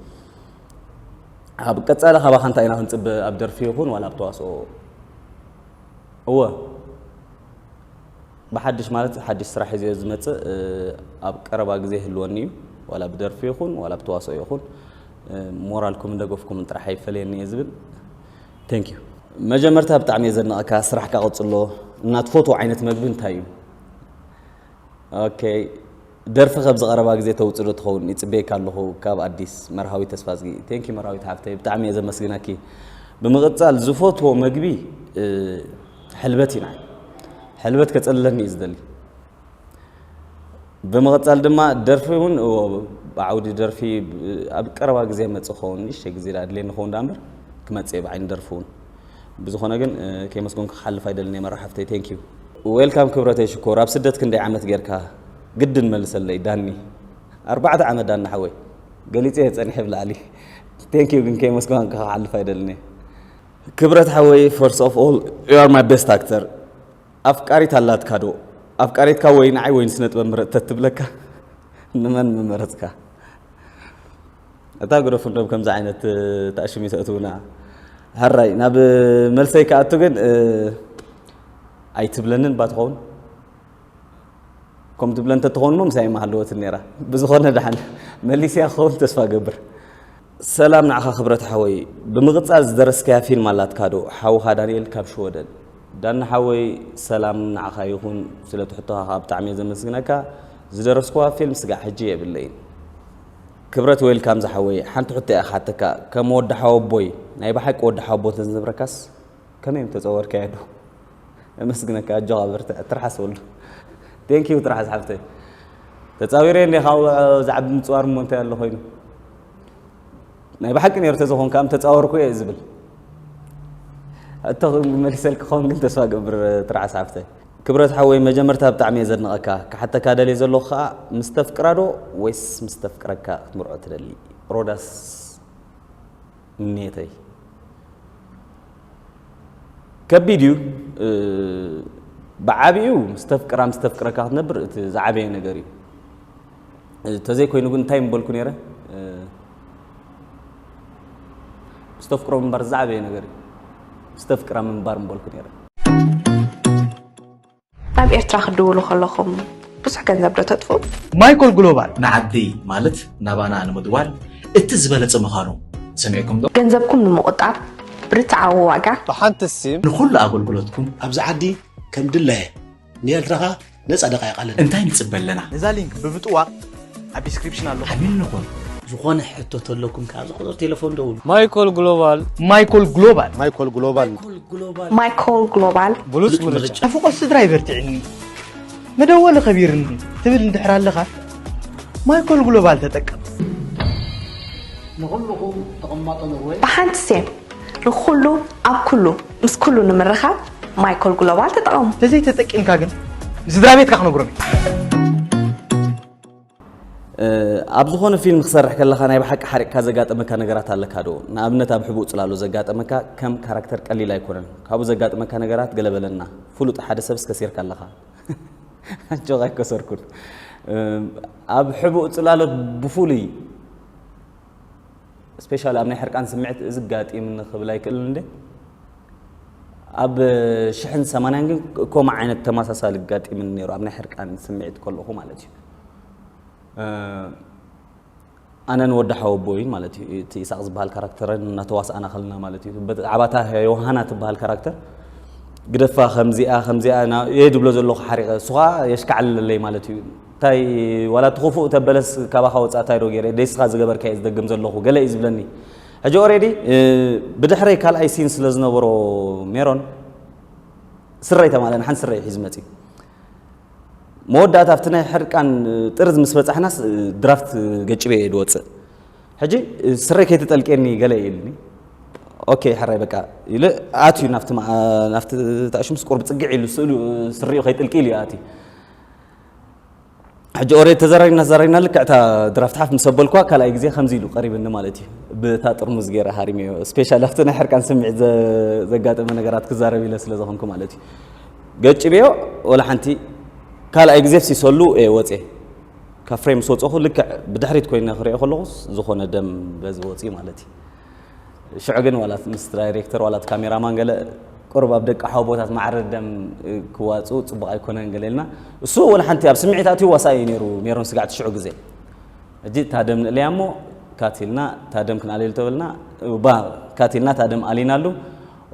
ኣብ ቀጻሊ ካባኻ እንታይ ኢና ክንጽበ ኣብ ደርፊ ይኹን ዋላ ኣብ ተዋስኦ እወ ብሓድሽ ማለት ሓድሽ ስራሕ ሒዘ ዝመጽእ ኣብ ቀረባ ግዜ ህልወኒ እዩ ዋላ ብደርፊ ይኹን ዋላ ብተዋስኦ ይኹን ሞራልኩምን ደገፍኩምን ጥራሕ ኣይፈለየኒ እየ ዝብል ቴንክ ዩ መጀመርታ ብጣዕሚ እየ ዘድንቐካ ስራሕካ ቀጽሎ እና ትፈትዎ ዓይነት መግቢ እንታይ እዩ ኦኬ ደርፊ ከብዚ ቀረባ ግዜ ተውጽእ ዶ ትኸውን ይጽበየካ ኣለኹ ካብ ኣዲስ መርሃዊት ተስፋዝጊ። Thank you መርሃዊት ሓፍተይ ብጣዕሚ እየ ዘመስግነኪ። ብምቕጻል ዝፈትዎ መግቢ ሕልበት እዩ ንዓይ ሕልበት ከጸልለኒ እዩ ዝደሊ። ብምቕጻል ድማ ደርፊ እውን ብዓውዲ ደርፊ ኣብ ቀረባ ግዜ መጽእ ክኸውን ንእሽተይ ግዜ ድኣ ኣድልየኒ ክኸውን ድኣ እምበር ክመጽእ እየ ብዓይኒ ደርፊ እውን። ብዝኮነ ግን ከየመስገንኩ ክሓልፍ ኣይደልን እየ መራ ሓፍተይ thank you። Welcome ክብረተይ ሽኮር ኣብ ስደት ክንደይ ዓመት ጌርካ ግድን መልሰለይ ዳኒ ኣርባዕተ ዓመት ዳኒ ሓወይ ገሊፀ እየ ፀኒሐ ብላዕሊ thank you ግን ከየመስገንካ ክሓልፍ ኣይደልን እየ ክብረት ሓወይ first of all you are my best actor ኣፍቃሪት ኣላትካ ዶ ኣፍቃሪትካ ወይ ንዓይ ወይ ንስነጥበብ ምረፅ ተትብለካ ንመን ምመረፅካ ኣታ ግደፉ እንዶ ከምዚ ዓይነት ተኣሽሙ ተእትውና ሀራይ ናብ መልሰይ ክኣቱ ግን ኣይትብለንን ባ ትኸውን ከም ትብለ እንተትኸውን ሞ ምሳይ ማሃለወትን ነራ ብዝኾነ ድሓን መሊስያ ክኸውን ተስፋ ገብር ሰላም ንዓኻ ክብረት ሓወይ ብምቕጻል ዝደረስካያ ፊልም ኣላትካዶ ሓውኻ ዳንኤል ካብ ሽወደን ዳኒ ሓወይ ሰላም ንዓኻ ይኹን ስለ ትሕቶኻ ብጣዕሚ እየ ዘመስግነካ ዝደረስኩዋ ፊልም ስጋዕ ሕጂ የብለይን ክብረት ዌልካም ዝሓወይ ሓንቲ ሕቶ እያ ክሓተካ ከም ወዲ ሓወቦይ ናይ ብሓቂ ወዲ ሓወቦ ተዝነብረካስ ከመይ እዮም ተጸወርካዮ ዶ እመስግነካ ኣጆኻ በርትዕ ትርሓስ ወሉ ቴንክ ዩ ትርሓስ ሓፍተይ ተጻዊረ እንደ ካብ ዝዓቢ ምጽዋር እሞ እንታይ ኣሎ ኮይኑ ናይ ብሓቂ ነይሩ ተዝኾንካ እም ተጻወርኩ እየ ዝብል እቶ መሊሰልክ ክኸውን ግን ተስፋ ገብር ትርሓስ ሓፍተይ ክብረት ሓወይ መጀመርታ ብጣዕሚ እየ ዘድንቀካ ክሓተካ ደልየ ዘለኩ ከኣ ምስ ተፍቅራ ዶ ወይስ ምስ ተፍቅረካ ክትምርዖ ትደሊ ሮዳስ ምንየተይ ከቢድ እዩ ብዓቢኡ ምስ ተፍቅራ ምስ ተፍቅረካ ክትነብር እቲ ዝዓበየ ነገር እዩ ተዘይኮይኑ ግን እንታይ ምበልኩ ነይረ ምስ ተፍቅሮ ምንባር ዝዓበየ ነገር እዩ ምስ ተፍቅራ ምንባር ምበልኩ ነይረ
ናብ ኤርትራ ክትድውሉ ከለኹም ብዙሕ ገንዘብ ዶ ተጥፉ? ማይኮል ግሎባል
ንዓዲ ማለት
ናባና ንምድዋል እቲ ዝበለጸ ምዃኑ ሰሚዕኩም ዶ? ገንዘብኩም ንምቑጣብ
ብርትዓዊ ዋጋ ብሓንቲ ሲም
ንኹሉ ኣገልግሎትኩም
ኣብዚ ዓዲ
ከም ድላየ ንኤርትራ ከኣ ነጻ ደቃይቅ ኣለና እንታይ ንጽበ ኣለና ነዛ
ሊንክ ብምጥዋቅ
ኣብ ዲስክሪፕሽን ኣሎ ዓሚል ንኹን
ዝኾነ ሕቶ
ተለኩም ከኣ ዝቁፅር ቴሌፎን ደውሉ ማይኮል ግሎባል
ማይኮል ግሎባል
ማይኮል ግሎባል
ማይኮል
ግሎባል ብሉፅ ምርጫ
ኣፍቆ ስድራ ይበርትዕኒ
መደወሊ ከቢርኒ ትብል እንድሕር ኣለኻ ማይኮል ግሎባል ተጠቀም ንኹልኹም
ተቐማጦ ኖርወይ ብሓንቲ ሴም ንኹሉ ኣብ ኩሉ ምስ ኩሉ ንምርኻብ ማይኮል ግሎባል ተጠቐሙ። ተዘይ ተጠቂምካ ግን
ንስድራ ቤትካ ክነግሮም
እዩ። ኣብ ዝኾነ ፊልም ክሰርሕ ከለኻ ናይ ብሓቂ ሓሪቕካ ዘጋጠመካ ነገራት ኣለካ ዶ ንኣብነት ኣብ ሕቡእ ጽላሎ ዘጋጠመካ ከም ካራክተር ቀሊል ኣይኮነን ካብኡ ዘጋጠመካ ነገራት ገለበለና ፍሉጥ ሓደ ሰብ እስከሲርካ ኣለኻ ኣጆኻ ኣይከሰርኩን ኣብ ሕቡእ ጽላሎት ብፍሉይ ስፔሻል ኣብ ናይ ሕርቃን ስምዒት እዚ ጋጢምኒ ክብል ኣይክእልን እንደ ኣብ ሽሕን ሰማንያን ግን ከምኡ ዓይነት ተመሳሳሊ ጋጢምኒ ነይሩ ኣብ ናይ ሕርቃን ስምዒት ከለኹ ማለት እዩ ኣነን ወዲ ሓወቦይን ማለት እዩ እቲ ኢሳቅ ዝበሃል ካራክተርን እናተዋስኣና ከለና ማለት እዩ ብዛዕባታ ዮሃና ትበሃል ካራክተር ግደፋ ከምዚኣ ከምዚኣ የድብሎ ዘለኹ ሓሪቐ እሱ ከዓ የሽካዕልለይ ማለት እዩ ታይ ዋላ እቲ ኩፉእ ተበለስ ካባካ ወፃእ ታይ ዶ ገይረ ደይስካ ዝገበርካ እየ ዝደግም ዘለኩ ገለ እዩ ዝብለኒ ሕጂ ኦሬዲ ብድሕረይ ካልኣይ ሲን ስለ ዝነበሮ ሜሮን ስረይ ተማለ ንሓንቲ ስረ እዩ ሒዙ መፅዩ መወዳእታ ኣብቲ ናይ ሕርቃን ጥርዝ ምስ በፃሕናስ ድራፍት ገጭበ እየ ድወፅእ ሕጂ ስረይ ከይትጠልቄኒ ገለ እዩ ኢልኒ ኦኬ ሕራይ በቃ ኢሉ ኣትዩ ናብቲ ናብቲ ታእሹምስ ቁርብ ፅግዕ ኢሉ ስእሉ ስሪኡ ከይጥልቂ ኢሉ ኣትዩ ሕጂ ኦሬ ተዘራሪብና ተዘራሪብና ልክዕ እታ ድራፍት ሓፍ ምስ ኣበልኩዋ ካልኣይ ግዜ ከምዚ ኢሉ ቀሪብኒ ማለት እዩ ብእታ ጥርሙዝ ገይረ ሃሪመዮ ስፔሻል ኣብቲ ናይ ሕርቃን ስምዒት ዘጋጠመ ነገራት ክዛረብ ኢለ ስለ ዝኾንኩ ማለት እዩ ገጭበዮ ወላ ሓንቲ ካልኣይ ግዜ ሲሰሉ እየ ወፅየ ካብ ፍሬም ምስ ወፀኹ ልክዕ ብድሕሪት ኮይነ ክሪኦ ከለኹስ ዝኾነ ደም በዚ ወፅዩ ማለት እዩ ሽዑ ግን ዋላ እቲ ምስ ዳይሬክተር ዋላ እቲ ካሜራማን ገለ ቁሩብ ኣብ ደቂ ሓወቦታት ማዕረ ደም ክዋፅኡ ፅቡቕ ኣይኮነን ገለ ኢልና እሱ ወላ ሓንቲ ኣብ ስምዒት ኣትዩ ዋሳ እዩ ነይሩ ሜሮን ስጋዕቲ ሽዑ ግዜ ሕጂ እታ ደም ንእለያ እሞ ካቲልና እታ ደም ክንኣልየሉ ተበልና ባ ካቲልና እታ ደም ኣሊናሉ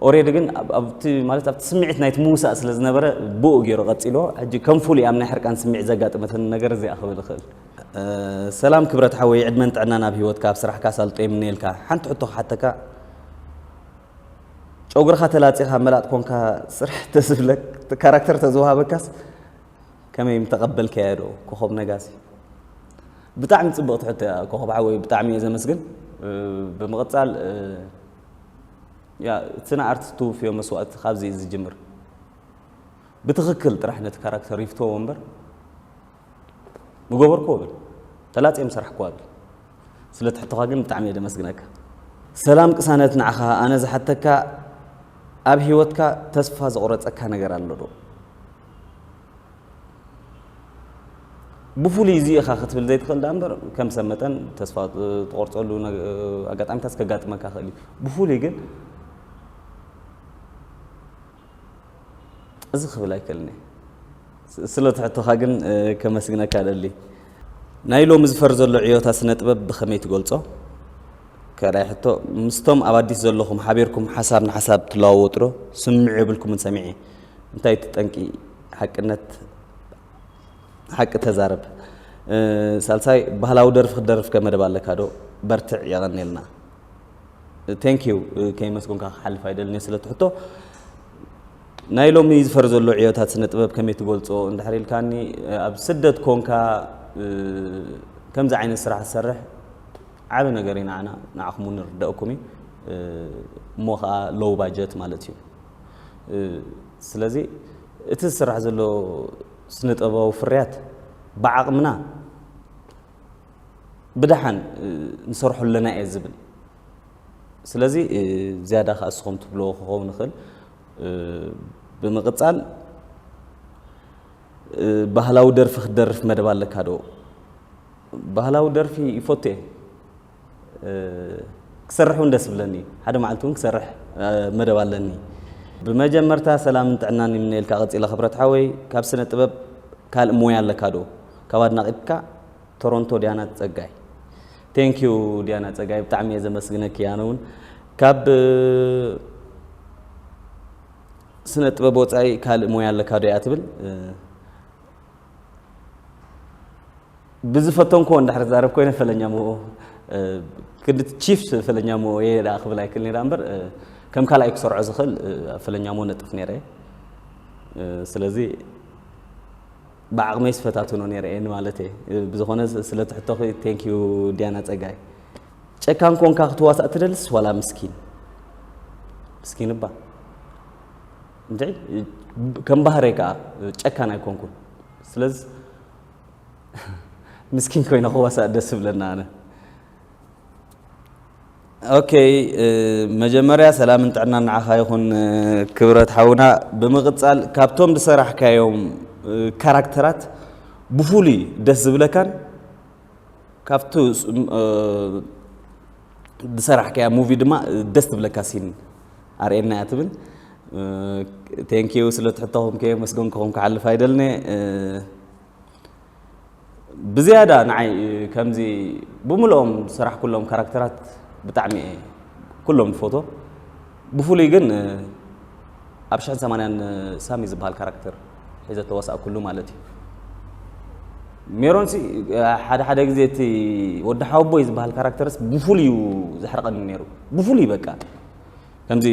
ኦሬዲ ግን ኣብቲ ማለት ኣብቲ ስምዒት ናይቲ ምውሳእ ስለ ዝነበረ ብኡ ገይሩ ቀፂልዎ ሕጂ ከም ፍሉይ ኣብ ናይ ሕርቃን ስምዒት ዘጋጥመትን ነገር እዚኣ ክብል እኽእል ሰላም ክብረት ሓወይ ዕድመን ጥዕናን ኣብ ሂወትካ ኣብ ስራሕካ ኣሳልጦ ይምነየልካ ሓንቲ ሕቶ ክሓተካ ጨጉርኻ ተላጺኻ መላጥ ኮንካ ስራሕ ተዝብለክ ካራክተር ተዝወሃበካስ ከመይ ምተቐበልከያ ዶ ኮኾብ ነጋሲ ብጣዕሚ ጽብቕቲ ሕቶ እያ ኮኾብ ሓወይ ብጣዕሚ እየ ዘመስግን ብምቕጻል እቲ ንኣርት ትውፍዮ መስዋእቲ ካብዚ ዝጅምር ብትኽክል ጥራሕ ነቲ ካራክተር ይፍትወዎ እምበር ምገበርክዎ በል ተላጽየ ምሰራሕክዋ በል ስለቲ ሕቶኻ ግን ብጣዕሚ እየ ደመስግነካ ሰላም ቅሳነት ንዓኻ ኣነ ዝሓተካ ኣብ ሂወትካ ተስፋ ዘቑረጸካ ነገር ኣሎ ዶ ብፍሉይ እዚ ኢኻ ክትብል ዘይትኽእል ዳ እምበር ከም ሰብ መጠን ተስፋ ትቆርፀሉ ኣጋጣሚታት ከጋጥመካ ክእል እዩ ብፍሉይ ግን እዚ ክብል ኣይክእልን'የ። ስለቲ ሕቶኻ ግን ከመስግነካ እደሊ። ናይ ሎሚ ዝፈር ዘሎ ዕዮታት ስነ-ጥበብ ብኸመይ ትገልጾ? ካልኣይ ሕቶ፣ ምስቶም ኣብ ኣዲስ ዘለኹም ሓቢርኩም ሓሳብ ንሓሳብ ትለዋወጡዶ? ስምምዕ የብልኩምን ሰሚዐ። እንታይ እቲ ጠንቂ? ሓቅነት ሓቂ ተዛረብ። ሳልሳይ፣ ባህላዊ ደርፊ ክትደርፍ ከ መደብ ኣለካዶ? በርትዕ፣ የቐንየልና። ቴንኪው ከይመስጎንካ ክሓልፍ ኣይደልን እየ ስለቲ ሕቶ ናይ ሎሚ ዝፈር ዘሎ ዕዮታት ስነ ጥበብ ከመይ ትገልፆ እንድሕር ኢልካኒ ኣብ ስደት ኮንካ ከምዚ ዓይነት ስራሕ ዝሰርሕ ዓበ ነገር እዩ ንዓና ንዓኹም እውን ንርደእኩም እዩ እሞ ከዓ ሎው ባጀት ማለት እዩ ስለዚ እቲ ዝስራሕ ዘሎ ስነ ጥበባዊ ፍርያት ብዓቕምና ብደሓን ንሰርሖ ኣለና እየ ዝብል ስለዚ ዝያዳ ከዓ እስኹም ትብልዎ ክኸውን ይኽእል ብምቕፃል ባህላዊ ደርፊ ክትደርፍ መደብ ኣለካ ዶ? ባህላዊ ደርፊ ይፈቱ እየ ክሰርሕ እውን ደስ ብለኒ ሓደ መዓልቲ እውን ክሰርሕ መደብ ኣለኒ። ብመጀመርታ ሰላምን ጥዕናን ይምነየልካ። ቀፂለ ክብረት ሓወይ ካብ ስነ ጥበብ ካልእ ሞያ ኣለካ ዶ? ካብ ኣድናቂትካ ቶሮንቶ ዲያና ጸጋይ። Thank you ዲያና ጸጋይ ብጣዕሚ እየ ዘመስግነኪ ኣነ እውን ካብ ስነ ጥበብ ወፃኢ ካልእ ሞያ ኣለካ ዶ እያ ትብል ብዝፈተንክዎ እንዳሕር ዛረብ ኮይነ ፈለኛ ምኦ ክንዲ ቺፍ ፈለኛ ምኦ እየ ዳ ክብል ኣይክል ነራ እምበር ከም ካልኣይ ክሰርዖ ዝኽእል ፈለኛ ምኦ ነጥፍ ነረ ስለዚ ብዓቕመይስ ፈታትኖ ነይረ እየ ንማለት እየ ብዝኾነ ስለ ትሕቶኺ ቴንክ ዩ ዲያና ጸጋይ ጨካን ኮንካ ክትዋሳእ ትደልስ ዋላ ምስኪን ምስኪን እባ እንድዒ ከም ባህረይ ከዓ ጨካን ኣይኮንኩን ስለዚ ምስኪን ኮይነ ክዋሳእ ደስ ብለና ኣነ Ok መጀመርያ ሰላምን ጥዕናን ንዓኻ ይኹን ክብረት ሓውና ብምቕጻል ካብቶም ዝሰራሕካዮም ካራክተራት ብፍሉይ ደስ ዝብለካን ካብቲ ዝሰራሕካያ ሙቪ ድማ ደስ ትብለካ ሲን ኣርእየና እያ ትብል ቴንኪዩ ስለ ትሕተኹም ከየመስገንኩኹም ክሓልፍ ኣይደልነ ብዝያዳ ንዓይ ከምዚ ብምልኦም ስራሕ ኩሎም ካራክተራት ብጣዕሚ እየ ኩሎም ዝፎቶ ብፍሉይ ግን ኣብ ሽሕን ሰማንያን ሳሚ ዝበሃል ካራክተር ሒዘ ተዋሳእኩሉ ማለት እዩ ሜሮንሲ ሓደ ሓደ ግዜ እቲ ወዲ ሓወቦይ ዝበሃል ካራክተርስ ብፍሉይ እዩ ዘሕርቐኒ ነይሩ ብፍሉይ በቃ ከምዚ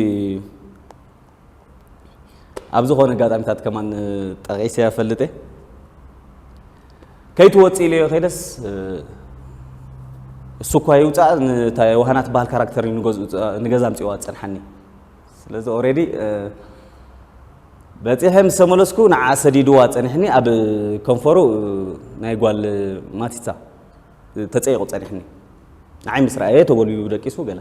ኣብ ዝኾነ ኣጋጣሚታት ከማን ጠቂሰ ኣፈልጥ እየ ከይትወፅ ኢለዮ ከይደስ እሱ እኳ ይውፃእ ንታ ዋህና ትበሃል ካራክተር ንገዛ ምፅዋ ዝፀንሓኒ ስለዚ ኦሬዲ በፂሐ ምስ ተመለስኩ ንዓ ሰዲድዋ ፀኒሕኒ ኣብ ከንፈሩ ናይ ጓል ማቲታ ተጸይቑ ጸኒሕኒ ንዓይ ምስ ረኣየ ተጎልቢቡ ደቂሱ ገለ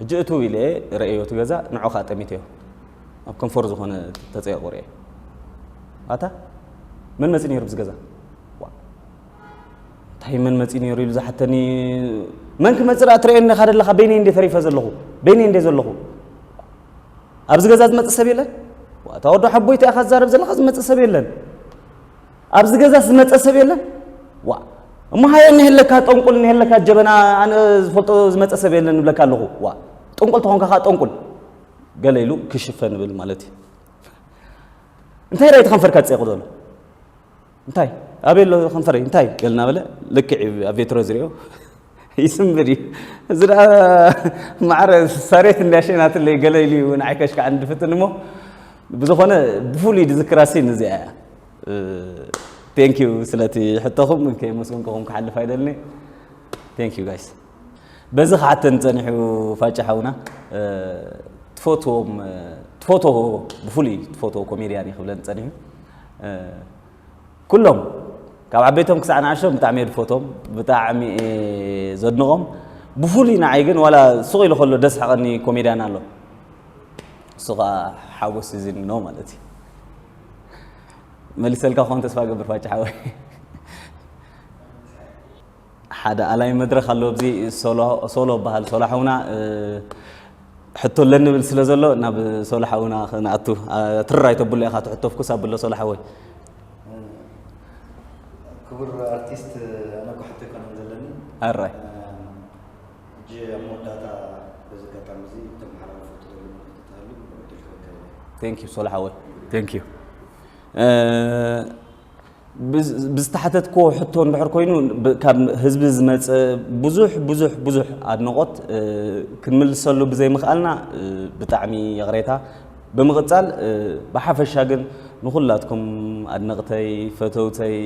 ሕጂ እትው ኢለ ረእዮ እቲ ገዛ ንዑ ከዓ ጠሚተዮ ኣብ ከንፈሩ ዝኾነ ተጸይቑ ርኤ ኣታ መን መጺ ነይሩ ብዚ ገዛ እንታይ መን መፂ ነይሩ ኢሉ ዝሓተኒ መን ክመፅእ ኣ ትርእየኒ ካ ደለካ በይነይ እንደ ተሪፈ ዘለኹ በይነይ እንደ ዘለኹ ኣብዚ ገዛ ዝመፅእ ሰብ የለን እታ ወዶ ሓቦይቲ ኢኻ ዝዛረብ ዘለካ ዝመፅእ ሰብ የለን ኣብዚ ገዛስ ዝመፀ ሰብ የለን ዋ እሞ ሃየ እኒሀለካ ጠንቁል እኒሀለካ ጀበና ኣነ ዝፈልጦ ዝመፀ ሰብ የለን ንብለካ ኣለኹ ዋ ጠንቁል ተኾንካ ከዓ ጠንቁል ገለ ኢሉ ክሽፈ ንብል ማለት እዩ እንታይ ዳይ ተኸንፈርካ ዝፀይቑ ዘሎ እንታይ ኣበይ ኣሎ ከንፈረይ እንታይ ገልና በለ ልክዕ ኣብ ቬትሮ ዝሪኦ ይስምር እዩ እዚ ደኣ ማዕረ ሳሬት እንዳሸናትለይ ገለ ኢሉ እዩ ንዓይ ከሽካዕ እንድፍትን እሞ ብዝኾነ ብፍሉይ ዝዝክራ ሲን እዚኣ እያ ቴንክ ዩ ስለቲ ሕቶኹም ከየመስገንኩኹም ክሓልፍ ኣይደልኒ ቴንክ ዩ ጋይስ በዚ ክሓተን ፀኒሑ ፋጭ ሓውና ትፈትዎም ትፈትዎ ብፍሉይ ትፈትዎ ኮሜድያን እዩ ክብለን ፀኒሑ ኩሎም ካብ ዓበይቶም ክሳዕ ንኣሽቶም ብጣዕሚ እየ ዝፈትዎም ብጣዕሚ ዘድንቖም ብፍሉይ ንዓይ ግን ዋላ ሱቕ ኢሉ ከሎ ደስ ሓቐኒ ኮሜድያን ኣሎ እሱ ከዓ ሓጎስ እዚን ነው ማለት እዩ መልሰልካ ክኾን ተስፋ ገብር ፋጭ ሓወይ ሓደ ኣላይ መድረክ ኣሎ ኣብዚ ሶሎ በሃል ሶሎ ሓውና ሕቶ ኣለኒ ብል ስለ ዘሎ ናብ ሶሎ ሓውና ክንኣቱ ትርር ኣይተብሎ ኢኻ ትሕቶ ፍኩስ ኣብሎ ሶሎ ሓወይ
ክቡር ኣርቲስት ኣነ እኮ ሕቶ ኣይኮነን ዘለኒ ኣራይ ሕጂ ኣብ መወዳእታ በዚ ኣጋጣሚ
እዚ እተመሓላልፎ እትደልዮ መልእኽቲ እንተሃልዩ እምበር ዕድል ክህበካ ይደሊ። Thank you ሶሎ ሓወይ Thank you ብዝተሓተትክዎ ሕቶ እንድሕር ኮይኑ ካብ ህዝቢ ዝመፀ ብዙሕ ብዙሕ ብዙሕ ኣድነቆት ክንምልሰሉ ብዘይምኽኣልና ብጣዕሚ ይቕሬታ ብምቕፃል ብሓፈሻ ግን ንኹላትኩም ኣድነቕተይ ፈተውተይ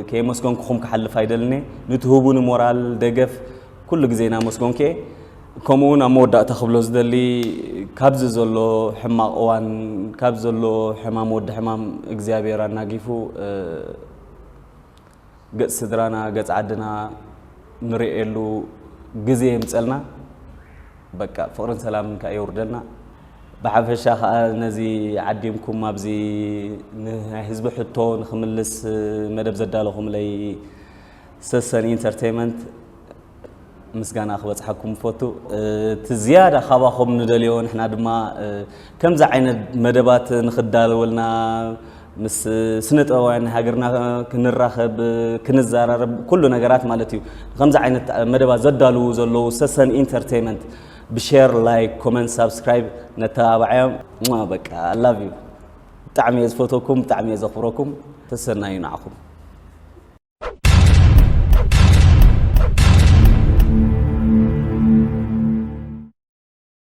ከየመስገንኩኹም ክሓልፍ ኣይደልንየ ንትህቡኒ ሞራል ደገፍ ኩሉ ግዜ እናመስገንኩየ ከምኡ እውን ኣብ መወዳእታ ክብሎ ዝደሊ ካብዚ ዘሎ ሕማቕ እዋን ካብ ዘሎ ሕማም ወዲ ሕማም እግዚኣብሔር ኣናጊፉ ገጽ ስድራና ገጽ ዓድና ንርእየሉ ግዜ የምጸልና በቃ ፍቕርን ሰላምን ከኣ የውርደልና ብሓፈሻ ከኣ ነዚ ዓዲምኩም ኣብዚ ንናይ ህዝቢ ሕቶ ንኽምልስ መደብ ዘዳለኹምለይ ሰሰን ኢንተርተይመንት ምስጋና ክበጽሓኩም እፈቱ። እቲ ዝያዳ ካባኹም ንደልዮ ንሕና ድማ ከምዚ ዓይነት መደባት ንኽዳለወልና ምስ ስነ ጥበባውያን ናይ ሃገርና ክንራኸብ ክንዘራረብ ኩሉ ነገራት ማለት እዩ። ከምዚ ዓይነት መደባት ዘዳልዉ ዘለዉ ሰሰን ኢንተርተይመንት ብሸር ላይክ ኮመንት ሳብስክራይብ ነተባብዓዮም በቃ ኣላቭ ዩ ብጣዕሚ እየ ዝፈትወኩም ብጣዕሚ እየ ዘኽብረኩም ተሰናዩ ንዓኹም